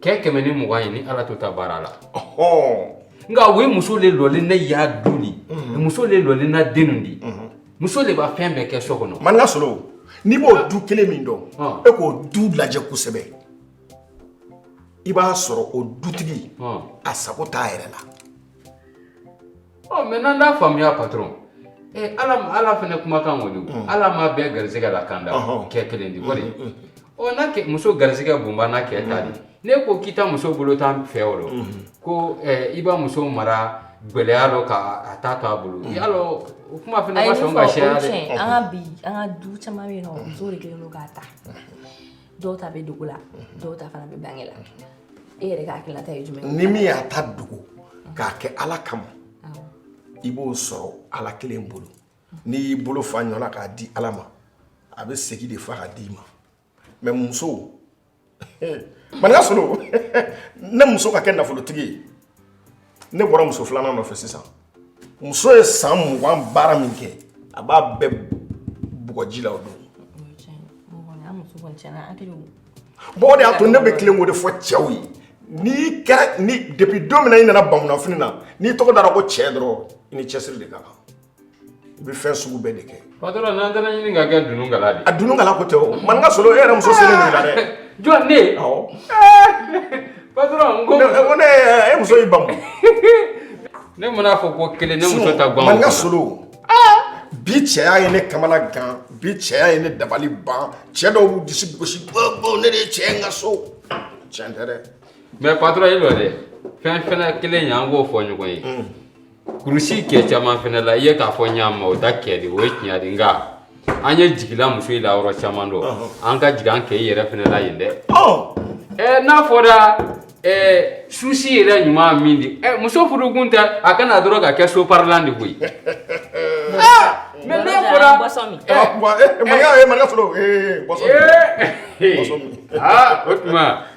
kɛ kɛmɛ ni mugan ye ni ala to ta baara la nka o ye muso le lɔlen ne y'a du ni muso le lɔlen n'a denw di muso le b'a fɛn bɛɛ kɛ so kɔnɔ maninka solo n'i b'o du kelen min dɔn e k'o du lajɛ kosɛbɛ i b'a sɔrɔ o dutigi a sago t'a yɛrɛ la ɔ mais n'an t'a faamuya patron ee ala ala fana kumakan kɔni mm. ala ma bɛɛ garisɛgɛ la kan da kɛ kelen di kɔni mm, mm, ɔ n'a kɛ muso garisɛgɛ bonba n'a kɛ ta di ne ko k'i ta muso bolo tan fɛ o ko i b'a muso mara gɛlɛya dɔ ka a ta to a bolo y'a lɔn o kuma fana ma sɔn ka sɛya dɛ an ka bi an ka du caman bɛ yen nɔ muso de kelen don k'a ta dɔw ta bɛ dogo la dɔw ta fana bɛ bange la e yɛrɛ ka hakilina ta ye jumɛn ye ni min y'a ta dogo k'a kɛ ala kama awɔ i b'o sɔrɔ ala kelen bolo n'i y'i bolo fa ɲɔ la k'a di ala ma a bɛ segi de fa k'a d'i ma mais muso maninka solo ne muso ka kɛ nafolotigi ye ne bɔra muso filanan nɔfɛ sisan muso ye san mugan baara min kɛ a b'a bɛɛ bɔn kɔji la o don bɔgɔ de y'a to ne bɛ tilen k'o de fɔ cɛw ye n'i kɛra ni depuis don min na i nana bamunanfini na n'i tɔgɔ dara ko cɛ dɔrɔn i ni cɛsiri de ka kan I bɛ fɛn sugu bɛɛ de kɛ ba n'an taara ɲini ka kɛ dunun kala de a dunun kala ko tɛ maninka solo e yɛrɛ muso siri la dɛ jɔn ne ba ne e muso ba ne man'a fɔ ko kelen ne muso ta maninka solo bi cɛya ye ne kamana gan bi cɛya ye ne dabali ban cɛ dɔw b'u dusu gosi ne de ye cɛ n ka so cɛn tɛ dɛ mais patron e dɔ dɛ fɛn fɛn kelen ye an k'o fɔ ɲɔgɔn ye Kurusi kɛ caman fana la i ye k'a fɔ ɲa ma o da kɛ de o ye tiɲɛ di nka an ye jigila muso in la yɔrɔ caman dɔ an ka jigin an kɛ i yɛrɛ fana la yen dɛ ɛɛ n'a fɔra ɛɛ susi yɛrɛ ɲuman min di ɛ muso furukun tɛ a kana dɔrɔn ka kɛ soparilan di koyi aa mɛ n'a fɔra Bɔsɔn min. ɛ Maninka ee Maninka fɔlɔ ee Bɔsɔn ee aa o tuma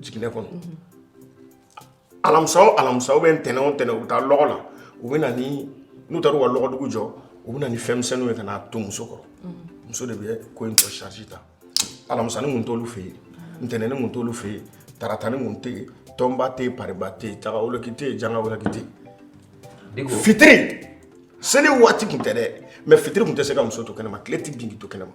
jiginɛ kɔnɔ alamisa o alamisa u bɛ ntɛnɛn o ntɛnɛn u bɛ taa lɔgɔ la u bɛ na ni n'u taara u ka lɔgɔdugu jɔ u bɛ na ni fɛn misɛnninw ye ka n'a to muso kɔrɔ muso de bɛ ko in tɔ charge ta alamisani kun t'olu fɛ yen ntɛnɛnni kun t'olu fɛ yen taratani kun tɛ yen tɔnba tɛ yen pariba tɛ yen tagawoloki tɛ yen jangawoloki tɛ yen fitiri seli waati kun tɛ dɛ mɛ fitiri kun tɛ se ka muso to kɛnɛma tile tɛ bin k'i to kɛnɛma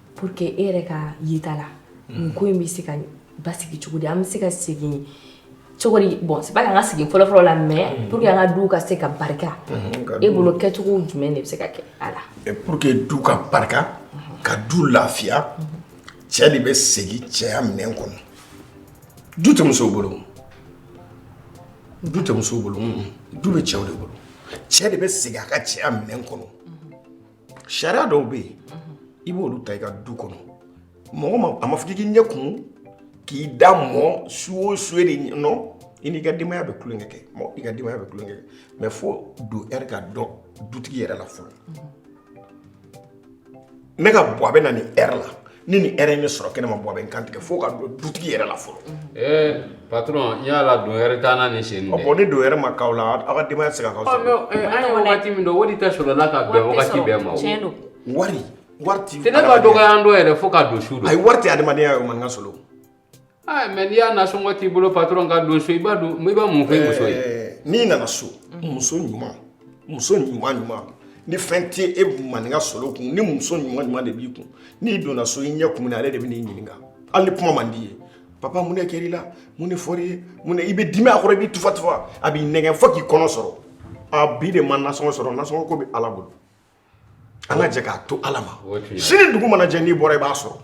pour que e yɛrɛ ka yeta la nin mm. ko in bɛ se ka basigi cogo di an bɛ se ka segin cogo di bon c'est pas k'an ka segin fɔlɔfɔlɔ la mais mm. pour que an ka duw ka se ka barika mm-hmm. e bolo kɛcogo jumɛn de bɛ se ka kɛ a la. pour que du ka barika mm-hmm. ka du lafiya mm-hmm. cɛ de bɛ segin cɛya minɛn kɔnɔ du tɛ musow bolo du tɛ musow bolo du bɛ cɛw de bolo cɛ de bɛ segin a ka cɛya minɛn kɔnɔ. sariya dɔw bɛ yen i b'olu ta i ka du kɔnɔ mɔgɔ ma a ma fɔ k'i k'i ɲɛ kumu k'i da mɔ su o su e de nɔ i n'i ka denbaya bɛ tulonkɛ kɛ mɔ i ka denbaya bɛ tulonkɛ kɛ mɛ fo don ɛri ka dɔn dutigi yɛrɛ la fɔlɔ n'a ka bɔ a bɛ na nin ɛri la ni nin ɛri ye n sɔrɔ kɛnɛma ba bɛ n kan tigɛ fo ka dɔn dutigi yɛrɛ la fɔlɔ ee patron n y'a la don ɛri t'an na nin sen in dɛ bon ni don ɛri ma k'aw la aw ka denbaya tɛ se ka k'aw sɔrɔ an ye wagati min dɔn o de tɛ sɔrɔla ka bɛn wagati bɛɛ ma o tiɲɛ don wari wari ti tɛ ne ka dɔgɔya an dɔ yɛrɛ fo ka don su don a ye wari tɛ adamadenya ye o man ka solo Aa mɛ n'i y'a nasɔngɔ t'i bolo patura ka don so i b'a dɔn i bɛ mun fɔ i muso ye n'i nana so muso ɲuman muso ɲuman ɲuman ni fɛn tɛ e maninka sɔrɔ kun ni muso ɲuman ɲuman de b'i kun n'i donna so i ɲɛ kumulen a b'i ɲininka hali kuma man d'i ye papa mun ne kɛra i la mun ne fɔra i ye mun i bɛ dimi a kɔrɔ i bɛ tufa tufa a b'i nɛgɛn fo k'i kɔnɔ sɔrɔ a bi ne ma nasɔngɔ sɔrɔ nasɔngɔ ko bɛ ala bolo an ka jɛ k'a to ala ma sini dugu mana jɛ n'i bɔra i b'a sɔrɔ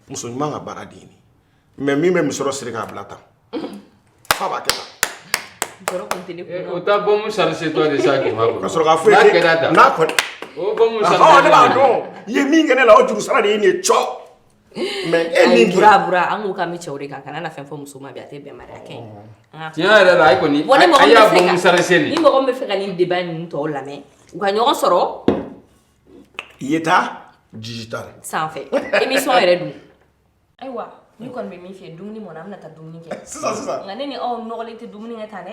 muso ɲuman ka baara de ye nin mɛ min bɛ musɔrɔ siri k'a bila tan fa b'a kɛ tan eh, o ta bɔmu sarisitɔ de sa k'i ma ka sɔrɔ k'a fɔ ye n'a kɔni o bɔmu sarisitɔ ne b'a dɔn i ye min kɛ ne la o juru sara de ye nin ye cɔ Mɛ e min bura bura an kun kan bi cɛw de kan kana na fɛn fɔ muso ma bi a tɛ bɛn kɛ tiɲɛ yɛrɛ la a kɔni ni mɔgɔ bɛ fɛ ka nin débat nin tɔ lamɛn u ka ɲɔgɔn sɔrɔ i ye taa ji ta sanfɛ émission yɛrɛ dun ayiwa ni kɔni bɛ min fɛ dumuni mɔn an bɛna taa dumuni kɛ sisan sisan nka ne ni aw nɔgɔlen tɛ dumuni kɛ tan dɛ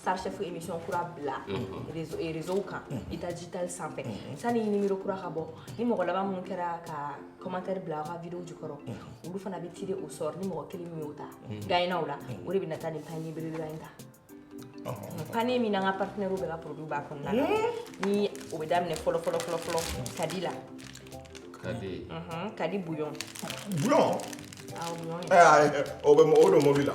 star chef émission kura bila réseau o réseau kan i ta digital sanfɛ sani numéro kura ka bɔ ni mɔgɔ laban minnu kɛra ka commentaire bila ka vidéo jukɔrɔ olu fana bɛ tirer au sort ni mɔgɔ kelen min y'o ta gagnant la o de bɛ na taa nin panier belebeleba in ta panier min n'an ka partenaire bɛɛ ka produit b'a kɔnɔna la ni o bɛ daminɛ fɔlɔ fɔlɔ fɔlɔ fɔlɔ kadi la kadi kadi bouillon bouillon o bɛ o don mobili la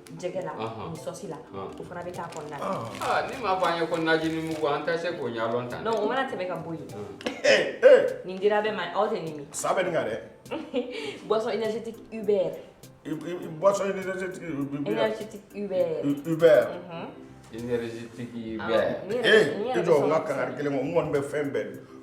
jɛgɛ la ni sɔsi la o fana bɛ k'a kɔnɔna na nin m'a fɔ an ye ko najinin mugu an tɛ se k'o ɲɛdɔn tan o mana tɛmɛ ka bɔ yen nin dira bɛɛ ma aw tɛ nin min sa bɛ nin kan dɛ boisson énergétique Uber boisson énergétique Uber énergétique Uber Uber énergétique Uber ee i jɔ n ka kangari kelen kɛ n kɔni bɛ fɛn bɛɛ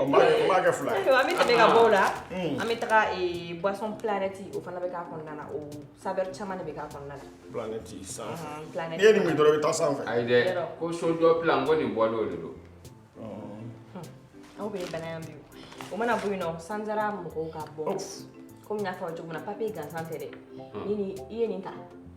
An b'a kɛ- an b'a kɛ fila ye. Ayiwa, an bɛ tɛmɛ ka bɔ o la, an bɛ taga eh, boisson planète o fana bɛ k'a kɔnɔna na, o saveur caman de bɛ k'a kɔnɔna na. Planète sanfɛ. Ɔhɔn, planète. N'i ye nin min dɔrɔn i bɛ taa sanfɛ. Ayi dɛ, ko sojɔ plan ko nin bɔlen o de don. Aw bɛ bana yan bi o. O mana bɔ yen nɔ, sanzara mɔgɔw ka bon. Komi n y'a fɔ aw ye cogo min na, papier gansan tɛ dɛ. Ni nin- i ye nin ta,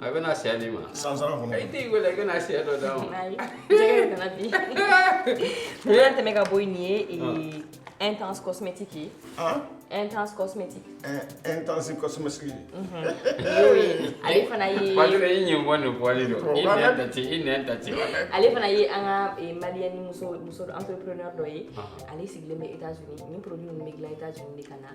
A bɛ na syɛ d'i ma sanzara kɔnɔ i t'i wele i bɛna syɛ dɔ d'a ma Ayi, jɛgɛ de nana bi. An y'a tɛmɛ ka bɔ yen nin ye ee, intense cosmétique ye han intense cosmétique intense cosmétique y'o ye ale fana ye Patron i ɲin bɔ nin bɔli don i Wala. nɛn tɛ ci i nɛn tɛ ci ale fana ye an ka ee, malienne muso muso entrepreneur dɔ ye ale sigilen bɛ Etats-Unis nin produit ninnu bɛ dilan Etats-Unis de ka na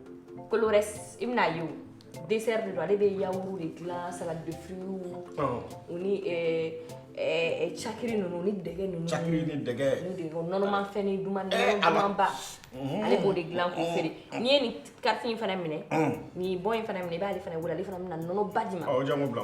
Kolores i bɛna ye dessert de don ale bɛ yaourt de dilan salade de fruits o ni cakiri ninnu ni dɛgɛ ninnu nɔnɔmafɛnnin dumanba ale b'o de dilan k'o feere n'i ye nin carte in fana minɛ nin bon in fana minɛ i b'ale fana wele ale fana bɛna nɔnɔba d'i ma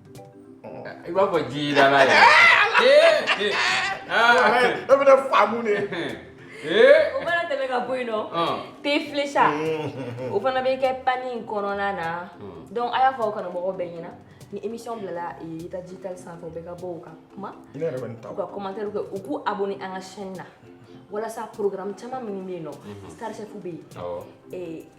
i b'a fɔ jidala yɛrɛ ee ee aa e bɛ ne faamu de ee o fana tɛmɛ ka bɔ yen nɔ Ɔn. thé Flecha o fana bɛ kɛ panier in kɔnɔna na donc a y'a fɔ aw kanumɔgɔw bɛɛ ɲɛna ni émission bilala eh, ta digital sanfɛ u bɛ ka bɔ u ka kuma ne yɛrɛ bɛ nin ta u ka commentaire kɛ u k'u abonné an ka chaîne na walasa programme caman minnu bɛ yen nɔ star chef bɛ yen awɔ eh,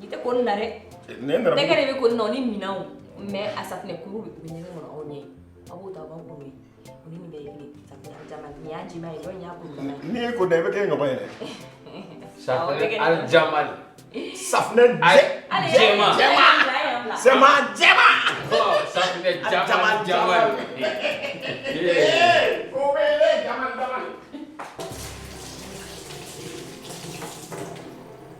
Ni tɛ ko na dɛ ne kɛra bɛ ko nɔ ni minɛn mɛ a safunɛkuru bɛ panier kɔnɔ aw ɲɛ a b'o ta b'aw bolo ni bɛ ye nin y'a jima ye dɔn y'a kun n'i ye ko da i bɛ kɛ ɲɔgɔn yɛrɛ jama safunɛ jɛma jɛma sɛma jɛma safunɛ jama jama o bɛ jama jama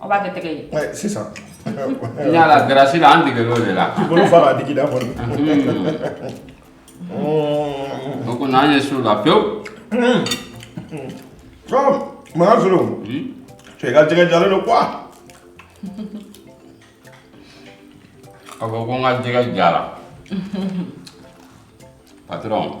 On va te tɛgɛ ye. Sisan. N y'a la grâce la an degela o de la. K'i bolo fa k'a digi i da kɔnɔ. O kɔni an ye s'o la pewu. Makan Zoro. Cɛ i ka jɛgɛ jalen don quoi. A ko ko n ka jɛgɛ jara. Patron.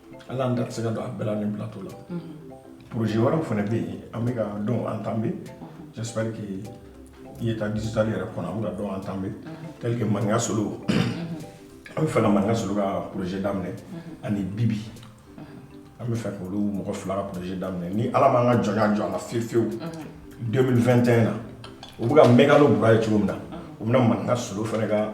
ala an garisigɛ don a bɛɛ la nin plateau la projet wɛrɛw fana bɛ yen an bɛ ka dɔ entamer j'espère que i ye taa digital yɛrɛ kɔnɔ an bɛ ka dɔ entamer tel que maninka solo an bɛ fɛ ka maninka solo ka projet daminɛ ani bibi an bɛ fɛ k'olu mɔgɔ fila ka projet daminɛ ni ala m'an ka jɔnya jɔ a la fiyewu fiyewu 2021 na u bɛ ka mɛkano bura ye cogo min na u bɛna maninka solo fana ka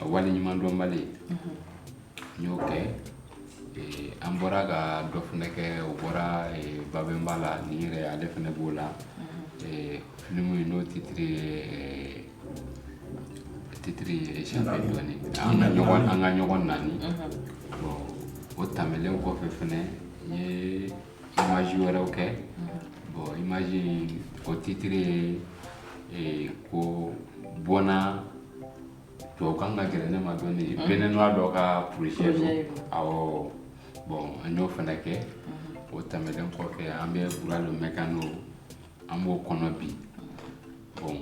a wale ɲuman dɔnbali mhm. n y'o kɛ eh, an bɔra ka dɔ fana kɛ o bɔra eh, babɛnba la ni yɛrɛ ale fana b'o la mhm. eh, filimu ye n'o titiri ye titiri ye sɛnfɛ dɔɔni an ka ɲɔgɔn an ka ɲɔgɔn naani mhm. o tɛmɛlen kɔfɛ fana n ye image wɛrɛw kɛ bon image o titre ye ko bon a tubabukan ka gɛlɛn ne ma dɔɔni béninois dɔ ka projet don awɔ bon an y'o fana kɛ o tɛmɛnen kɔfɛ an bɛ bura le mɛkano an b'o kɔnɔ bi bon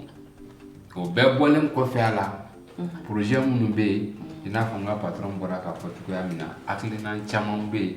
o bɛɛ bɔlen kɔfɛ a la projet minnu bɛ yen i n'a fɔ n ka patron bɔra k'a fɔ cogoya min na hakilinan caman bɛ yen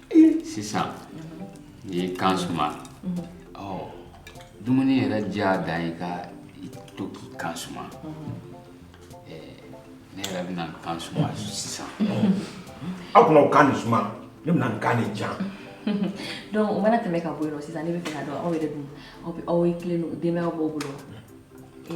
sisan n'i y'i kan suma ɔ dumuni yɛrɛ diya dan i ka i to k'i kan suma ne yɛrɛ bɛna n kan suma sisan aw kuna kan nin suma ne bɛna n kan nin ja donc o mana tɛmɛ ka bɔ yen nɔ sisan ne bɛ fɛ ka dɔn aw yɛrɛ dun aw bɛ aw ye tilen don denbayaw b'aw bolo wa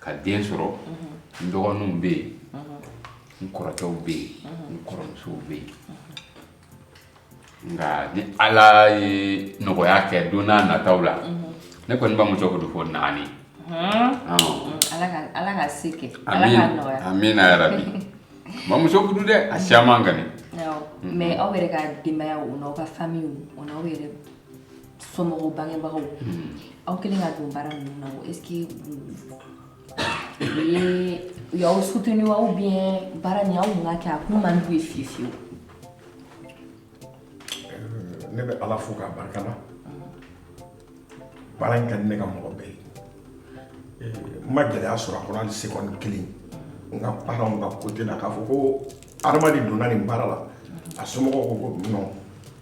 ka den sɔrɔ n dɔgɔninw bɛ yen n kɔrɔkɛw bɛ yen n kɔrɔmusow bɛ yen nka ni ala ye nɔgɔya kɛ don n'a nataw la ne kɔni b'a muso fudu fo naani ala ka se kɛ ala ka nɔgɔya amiina yɛrɛ bɛna muso fudu dɛ a caman ka ɲi aw yɛrɛ ka denbaya o n'aw ka famiw o n'aw yɛrɛ somɔgɔw bangebagaw aw kɛlen ka don baara ninnu na est ce que u ye u y'aw soutenu wa ou bien baara nin aw kun ka kɛ a kun man d'u ye fiye fiyewu ne bɛ ala fo k'a barika la baara in ka di ne ka mɔgɔ bɛɛ ye n ma gɛlɛya sɔrɔ a kɔnɔ hali sekɔni kelen n ka paranw ka kote la k'a fɔ ko adamaden donna nin baara la a somɔgɔw ko ko non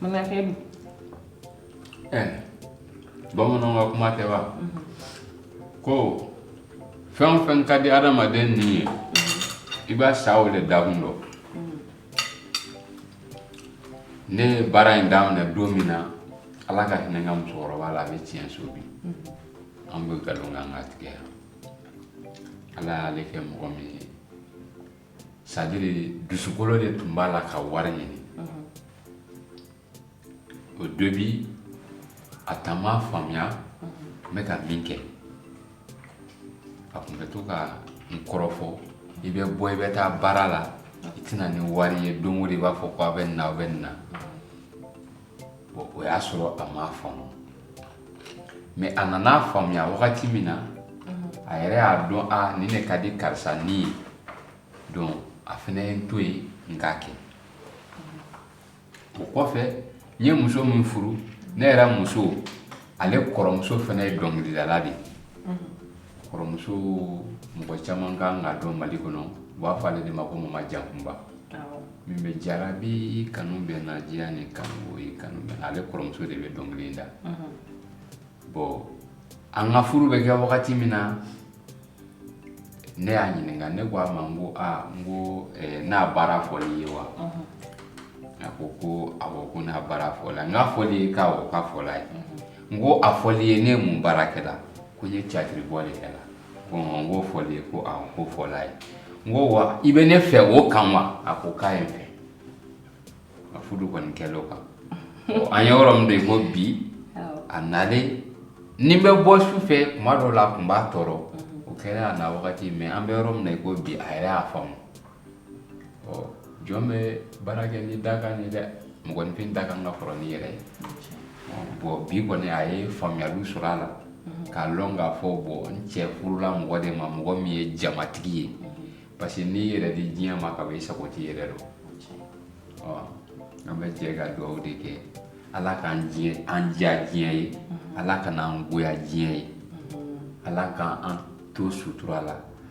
mais enfin eh bamananw ka kuma tɛ wa ko fɛn o fɛn ka di adamaden ni ye i bɛ sa o de dakun dɔ ne ye baara in daminɛ don min na ala ka hinɛ n ka musokɔrɔba la a bɛ tiɲɛ so bi an bɛ nkalon kan ka tigɛ yan ala y'ale kɛ mɔgɔ min ye c'est-à-dire dusukolo de tun b'a la ka wari ɲini au début a tun m'a faamuya n bɛ ka min kɛ a tun bɛ to ka n kɔrɔfɔ i bɛ bɔ i bɛ taa baara la i tɛ na ni wari ye don o don i b'a fɔ ko a bɛ nin na a bɛ nin na bon o y'a sɔrɔ a m'a faamu mɛ a nan'a faamuya wagati min na a yɛrɛ y'a dɔn a nin de ka di karisa ni ye donc a fana ye n to yen n k'a kɛ o kɔfɛ n ye muso min furu ne yɛrɛ muso ale kɔrɔmuso fana ye dɔnkilidala de ye kɔrɔmuso mɔgɔ caman kan k'a dɔn mali kɔnɔ u b'a fɔ ale de ma ko mama jankunba min bɛ jarabi kanu bɛ na diya ni kanu ye kanu bɛ ale kɔrɔmuso de bɛ dɔnkili da bɔn an ka furu bɛ kɛ wagati min na ne y'a ɲininka ne ko a ma n ko aa n ko ne ka baara fɔl'i ye wa a ko ko awɔ ko ne ka baara fɔla n k'a fɔl'i ye ko awɔ k'a fɔl'a ye n ko a fɔl'i ye ne mun baara kɛ la ko n ye tiyatiri bɔ de kɛ la n k'o fɔl'i ye ko awɔ k'o fɔl'a ye n ko wa i bɛ ne fɛ o kan wa a ko k'a ye n fɛ a fudu kɔni kɛl'o kan an ye yɔrɔ min dɔ i ko bi a nalen ni n bɛ bɔ su fɛ tuma dɔw la a tun b'a tɔɔrɔ o kɛra a na wagati mɛ an bɛ yɔrɔ min na i ko bi a yɛrɛ y'a faamu ɔ jɔn bɛ baara kɛ n'i dakan ye dɛ mɔgɔninfin dakan ka kɔrɔ n'i yɛrɛ ye bɔn bi kɔni a ye faamuyaliw sɔrɔ a la k'a lɔn k'a fɔ bɔn n cɛ furula mɔgɔ de ma mɔgɔ min ye jamatigi ye parce que n'i yɛrɛ di diɲɛ ma ka ban i sago t'i yɛrɛ dɔ ɔ an bɛ jɛ ka dugawu de kɛ ala k'an diya diɲɛ ye ala kan'an goya diɲɛ ye ala k'an to sutura la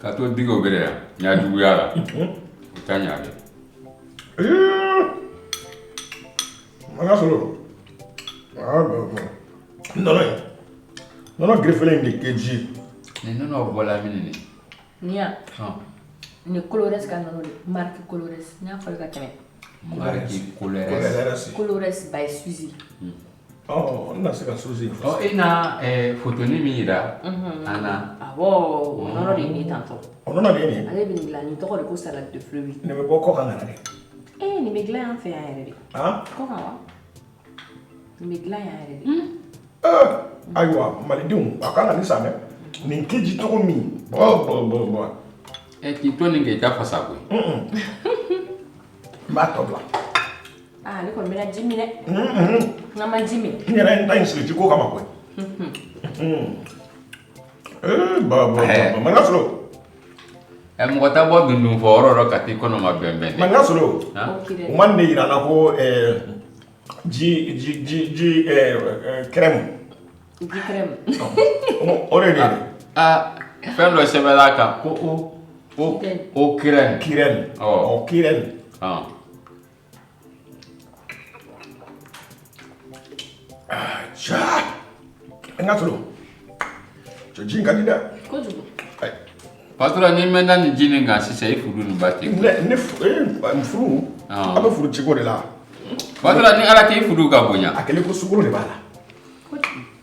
Ka to d o bɛ yan n y'a juguya la u taa ɲa dɛ makan sɔrɔ nɔnɔ gfi in de kɛ ji nɔnɔ bɔ lam Ni yan ni kolo wɛrɛ ka nɔnɔ mari kolo n y'a fɔ ka kɛmɛ kolo ba ye susi na se ka su e photo min jira an na o nɔnɔ de ye tan ale bɛ dilan ni tɔgɔ de ko salade fruit bɛ bɔ kɔkan ka na dɛ ee nin bɛ dilan yan fɛ yan yɛrɛ de ayiwa malidenw aw kan ka nin san dɛ nin tɛ ji cogo min bɔ bɔ bɔ bɔ ɛ k'i to nin kɛ i ka fasa koyi n b'a tɔ bila aa ne kɔni bɛna ji min dɛ nka n ma ji min n yɛrɛ n ta in sigi ji ko kama koyi ee ba ba ba ba ma n'a sɔrɔ Ɛ mɔgɔ tɛ bɔ dundun fɔ yɔrɔ rɔ ka t'i kɔnɔ mabɛnbɛn dɛ, mankan solo, an, o kida, u ma nin de jira an na ko ɛɛ ji ɛɛ crème ji crème o de ye nin ye, aa fɛn dɔ sɛbɛn na a kan ko eau crème, crème, ɔ, crème N ka sɔrɔ cɛ ji ka di dɛ kojugu Pastora n'i mɛnna nin ji nin kan sisan i furu nin bɛ tiɲɛ ne furu an bɛ furu ciko de la Pastora ni Ala k'i furu ka bonya a kɛlen ko sukoro de b'a la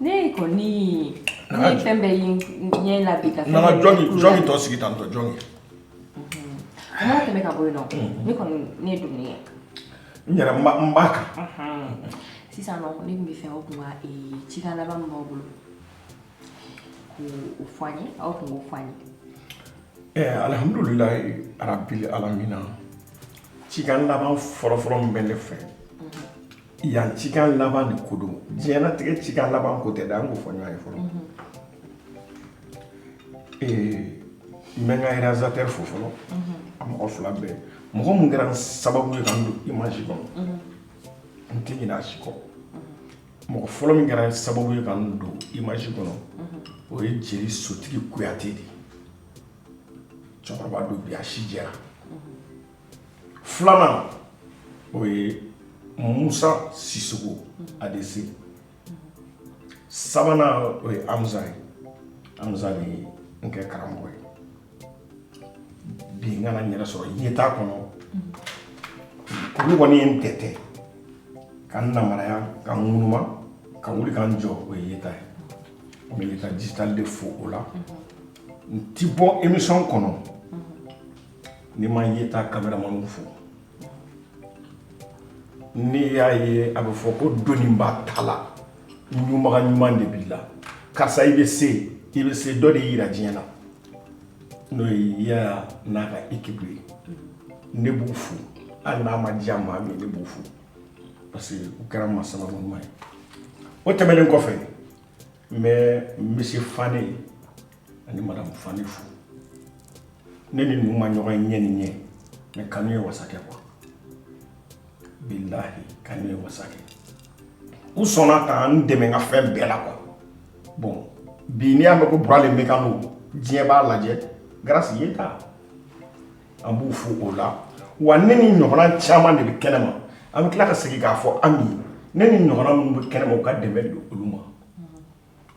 Ne kɔni ne ye fɛn bɛɛ ɲɛ tɔ sigi tan tɔ jɔn ye n tɛmɛ ka bɔ yen ne kɔni ne dumuni ye n yɛrɛ n ba kan sisan ne tun b'a fɛ aw tun cikan laban min b'aw bolo ka fɔ ye aw tun fɔ ye ɛɛ alihamdulila rabili alamina cikan laban fɔlɔfɔlɔ min bɛ ne fɛ yan cikan laban de ko don diɲɛnatigɛ cikan laban ko tɛ dɛ an k'o fɔ ɲɔgɔn ye fɔlɔ n bɛ n ka réalisateur fo fɔlɔ a mɔgɔ fila bɛɛ mɔgɔ min kɛra n sababu ye ka n don image kɔnɔ n tɛ ɲinɛ a si kɔ mɔgɔ fɔlɔ min kɛra n sababu ye ka n don image kɔnɔ o ye jeli sotigi kuyate de ye cɛkɔrɔba don bi a si jɛra filanan o ye musa sisoko adese sabanan o ye amusa ye amusa de ye n kɛ karamɔgɔ ye bi n ka na n yɛrɛ sɔrɔ yeta kɔnɔ olu kɔni ye n tɛtɛ ka n namaraya ka n ŋunuma ka wuli ka n jɔ o ye yeta ye n bɛ yeta digital de fo o la n ti bɔ émission kɔnɔ Ni ma Yeta kameramani fo ni y'a ye a bɛ fɔ ko don ba ta la ɲuman ɲuman de b'i la karisa i bɛ se i bɛ se dɔ de jira diɲɛ na n'o y'a n'a ka équipe ye ne b'u fo hali n'a ma diya maa min ne b'u fo parce que u kɛra n ma sababu ɲuman ye o tɛmɛnen kɔfɛ n bɛ misiye fanɛ ani madamu fanɛ fo ne ni ninnu ma ɲɔgɔn ye ɲɛ ni ɲɛ mais kanu ye wasa kɛ quoi bilahi kanu ye wasa kɛ u sɔnna ka n dɛmɛ n ka fɛn bɛɛ la quoi bɔn bi n'i y'a mɛn ko bura le mɛgalo diɲɛ b'a lajɛ grâce yeta an b'u fo o la wa ne ni ɲɔgɔnna caman de bɛ kɛnɛ ma an bɛ tila ka segin k'a fɔ an min ne ni ɲɔgɔnna minnu bɛ kɛnɛ ma u ka dɛmɛ don olu ma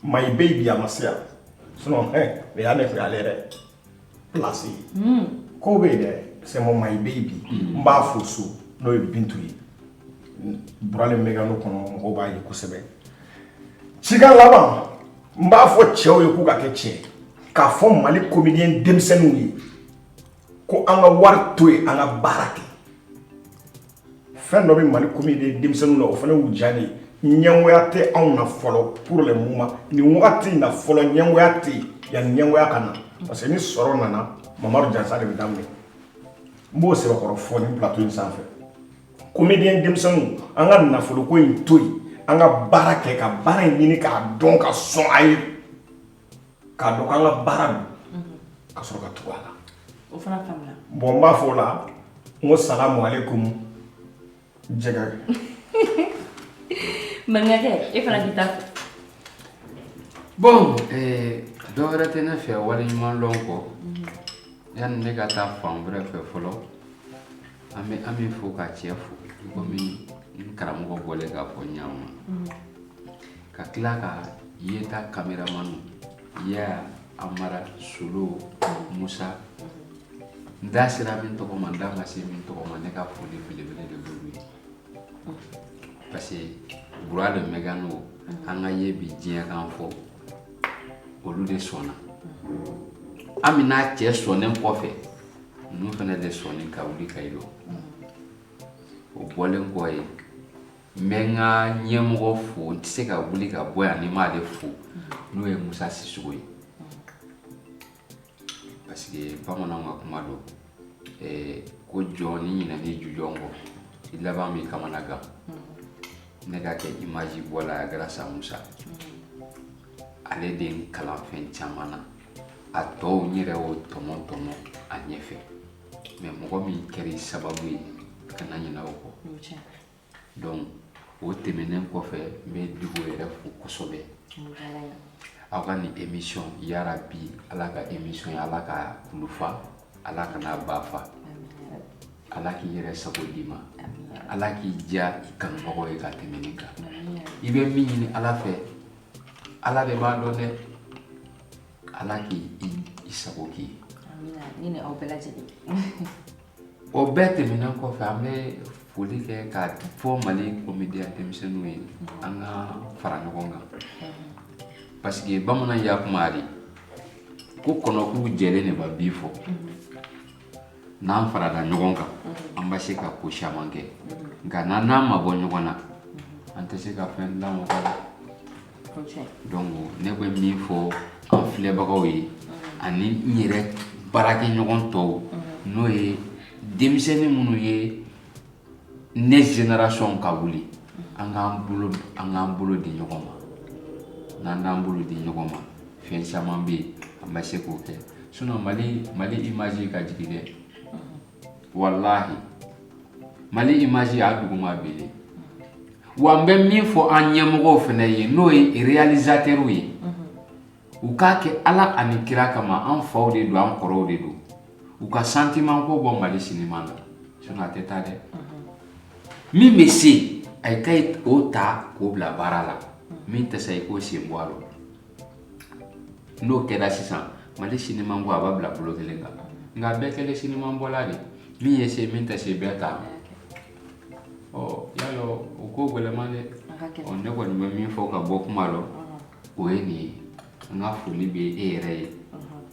My baby a ma se yan sinon ɛ nin y'ale kun y'ale yɛrɛ place ye ko bɛ yen dɛ c'est mon my baby n b'a fo so n'o ye Bintu ye bura le mɛgalo kɔnɔ mɔgɔw b'a ye kosɛbɛ cikan laban n b'a fɔ cɛw ye k'u ka kɛ cɛ ye k'a fɔ Mali comédien denmisɛnninw ye ko an ka wari to yen an ka baara kɛ fɛn dɔ bɛ mali comédien denmisɛnninw na o fana o diyara ne ye ɲɛngoya tɛ anw na fɔlɔ pour le moment nin wagati in na fɔlɔ ɲɛngoya tɛ yen yanni ɲɛngoya ka na parce que ni sɔrɔ nana mamadu janfa de bɛ daminɛ n b'o sɛbɛkɔrɔ fɔ nin plateau in sanfɛ comédien denmisɛnninw an ka nafoloko in to yen an ka baara kɛ ka baara in ɲini k'a dɔn ka sɔn a ye k'a dɔn k'an ka baara don mhm. ka sɔrɔ ka tugu a la o fana faamuna bɔn n b'a fɔ o la wa salamu aleykum jɛgɛ maninkakɛ e fana k'i ta fɔ bɔn eh, dɔ wɛrɛ tɛ ne fɛ waleɲumanlɔn kɔ mhm. yanni ne ka taa fan wɛrɛ fɛ fɔlɔ an bɛ an bɛ fo ka cɛ fo komi n karamɔgɔ bɔlen k'a fɔ ɲaama mhm. ka tila ka yeta kameramani ya amara solo musa n da sera min tɔgɔ ma n da ma se min tɔgɔ ma ne ka foli belebele de b'olu ye parce que bura le mɛgalo an ka ye bi diɲɛ kan fɔ olu de sɔnna ami n'a cɛ sɔnnen kɔfɛ ninnu fana de sɔnnen ka wuli k'i lɔ o bɔlen kɔ yen n bɛ n ka ɲɛmɔgɔ fo n tɛ se ka wuli ka bɔ yan ni n m'ale fo n'o ye musa sisogo ye parce que bamananw ka kuma don eh, ko jɔn n'i ɲinɛna i jujɔn kɔ i laban b'i kamana gan ne ka kɛ imaji bɔla ye grâce à musa ale de ye n kalan fɛn caman na a tɔw n yɛrɛ y'o tɔmɔ tɔmɔ a ɲɛfɛ mais mɔgɔ min kɛra i sababu ye kana ɲinɛ o kɔ donc o tɛmɛnen kɔfɛ n bɛ dugu yɛrɛ fo kosɛbɛ aw ka nin émission yarabi ala ka émission ye ala ka kulun fa ala kana ba fa ala k'i yɛrɛ sago d'i ma ala k'i diya i kanubagaw ye ka tɛmɛ nin kan i bɛ min ɲini ala fɛ ala de b'a dɔn dɛ ala k'i i sago k'i ye ni ni aw bɛɛ lajɛlen O bɛɛ tɛmɛnen kɔfɛ an bɛ foli kɛ k'a fɔ mali komediyɛnya denmisɛnninw ye an ka fara ɲɔgɔn kan parce que bamanan ya kuma de ko kɔnɔkulu jɛlen de bɛ bii fɔ n'an farala ɲɔgɔn kan an bɛ se ka ko caman kɛ nka n'an n'an mabɔ ɲɔgɔn na an tɛ se ka fɛn lamaga ne bɛ min fɔ an filɛbagaw ye ani n yɛrɛ baarakɛ ɲɔgɔn tɔw n'o ye denmisɛnnin minnu ye ne génération ka wuli an k'an bolo an k'an bolo di ɲɔgɔn ma n'an n'an bolo di ɲɔgɔn ma fɛn caman bɛ yen an bɛ se k'o kɛ sinɔn Mali image ka jigin dɛ walahi mali imaji y'a duguma belen wa n bɛ min fɔ an ɲɛmɔgɔw fana ye n'o ye realizatɛriw ye u k'a kɛ ala ani kira kama an faw de don an kɔrɔw de don u ka santimanko bɔ mali sinima na sinɔn a tɛ taa dɛ min bɛ se a ye ka o ta k'o bila baara la min tɛ se i k'o sen bɔ a la n'o kɛra sisan mali sinimanko a b'a bila bolo kelen kan nka a bɛɛ kɛlen sinimanbɔla de min ye se min tɛ se bɛɛ t'a mɛn i y'a dɔn o ko gɛlɛman dɛ A ka kɛ ɔ ne kɔni bɛ min fɔ ka bɔ kuma la o ye nin ye n ka foli bɛ e yɛrɛ ye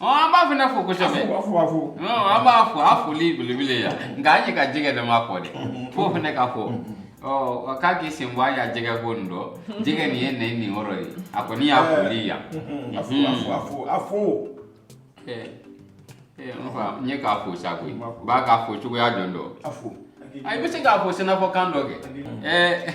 ɔ an b'e fana fo kosɛbɛ Afu, afu, afu. ɔ an b'a fo a foli belebele yan nka an ye ka jɛgɛ dɔ ma fɔ dɛ fo fana ka fɔ ɔ ɔ, k'a k'i sen bɔ a y'a jɛgɛ ko nin dɔ jɛgɛ nin ye nin ye nin yɔrɔ ye a kɔni y'a foli yan Afu, afu, afu, afu. ɛ ɛ n fa n ye k'a fo sa koyi n b'a k'a fo cogoya jɔn dɔ Afu. a i bɛ se k'a fɔ sɛnɛfɔkan dɔ kɛ ɛɛ